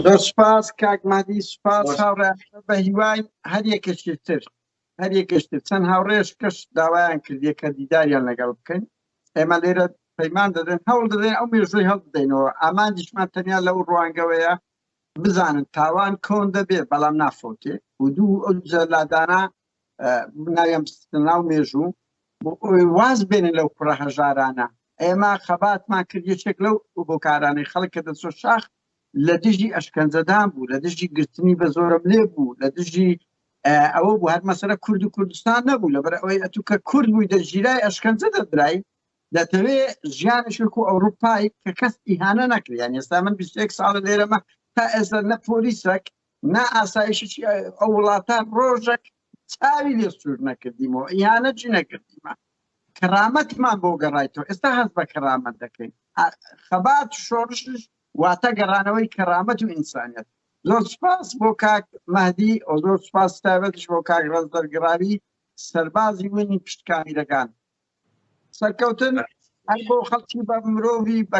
زۆر سپاس کاک مادی سپاس هاوڕێ بە هیوای هەر یەکەشتر هەریەکەش تر چەند هاوڕێیش کەش داوایان کردیە کە دیداریان لەگەڵ بکەین ئێمە لێرە پەیمان دەدەن هەوڵ دەدەین ئەو مێژووی هەڵبدەینەوە ئامانجیشمان تەنیا لە ئەو ڕوانگەوەیە بزانن تاوان کۆن دەبێ بەڵام نافۆتێ و دوو ئەو جەلادانە ناویان ناو مێژوو واز بێنن لەو کوڕە هەژارانە ئێمە خەباتمان کرد یەکێک لەو بۆکارانەی خەڵک کە دەچۆ شاخ لە دژی ئەشکەنجەدان بوو لە دژی گرتنی بە زۆرم لێ بوو لە دژی ئەوە بوو هەر مەسەرە کورد و کوردستان نەبوو لەبەر ئەوەی ئەتو کە کورد بووی دەژیرای ئەشکەنجە دەدرای دەتەوێ ژیانشک و ئەوروپای کە کەس ئیهانە نەکریان ئێستا من 21 ساڵە لێرەمە تا ئێستا نە پۆلیسەک نا ئاسایشی ئەو وڵاتان ڕۆژێک چاوی لێ سور نەکردیمەوە ئیانە جی نەکردیمە کەرامەتمان بۆ گەڕایتەوە ئێستا هەست بە کەرامەت دەکەین خەبات شۆڕشش واتە گەڕانەوەی کەرامەت و ئینسانیت زۆر سپاس بۆ کاک مەدی ئەو زۆر سپاس تابەتش بۆ کاک ڕز دەرگراوی سەربازی وینی پشتکامیرەکان سەرکەوتن هەر بۆ خەڵکی بە مرۆڤی بە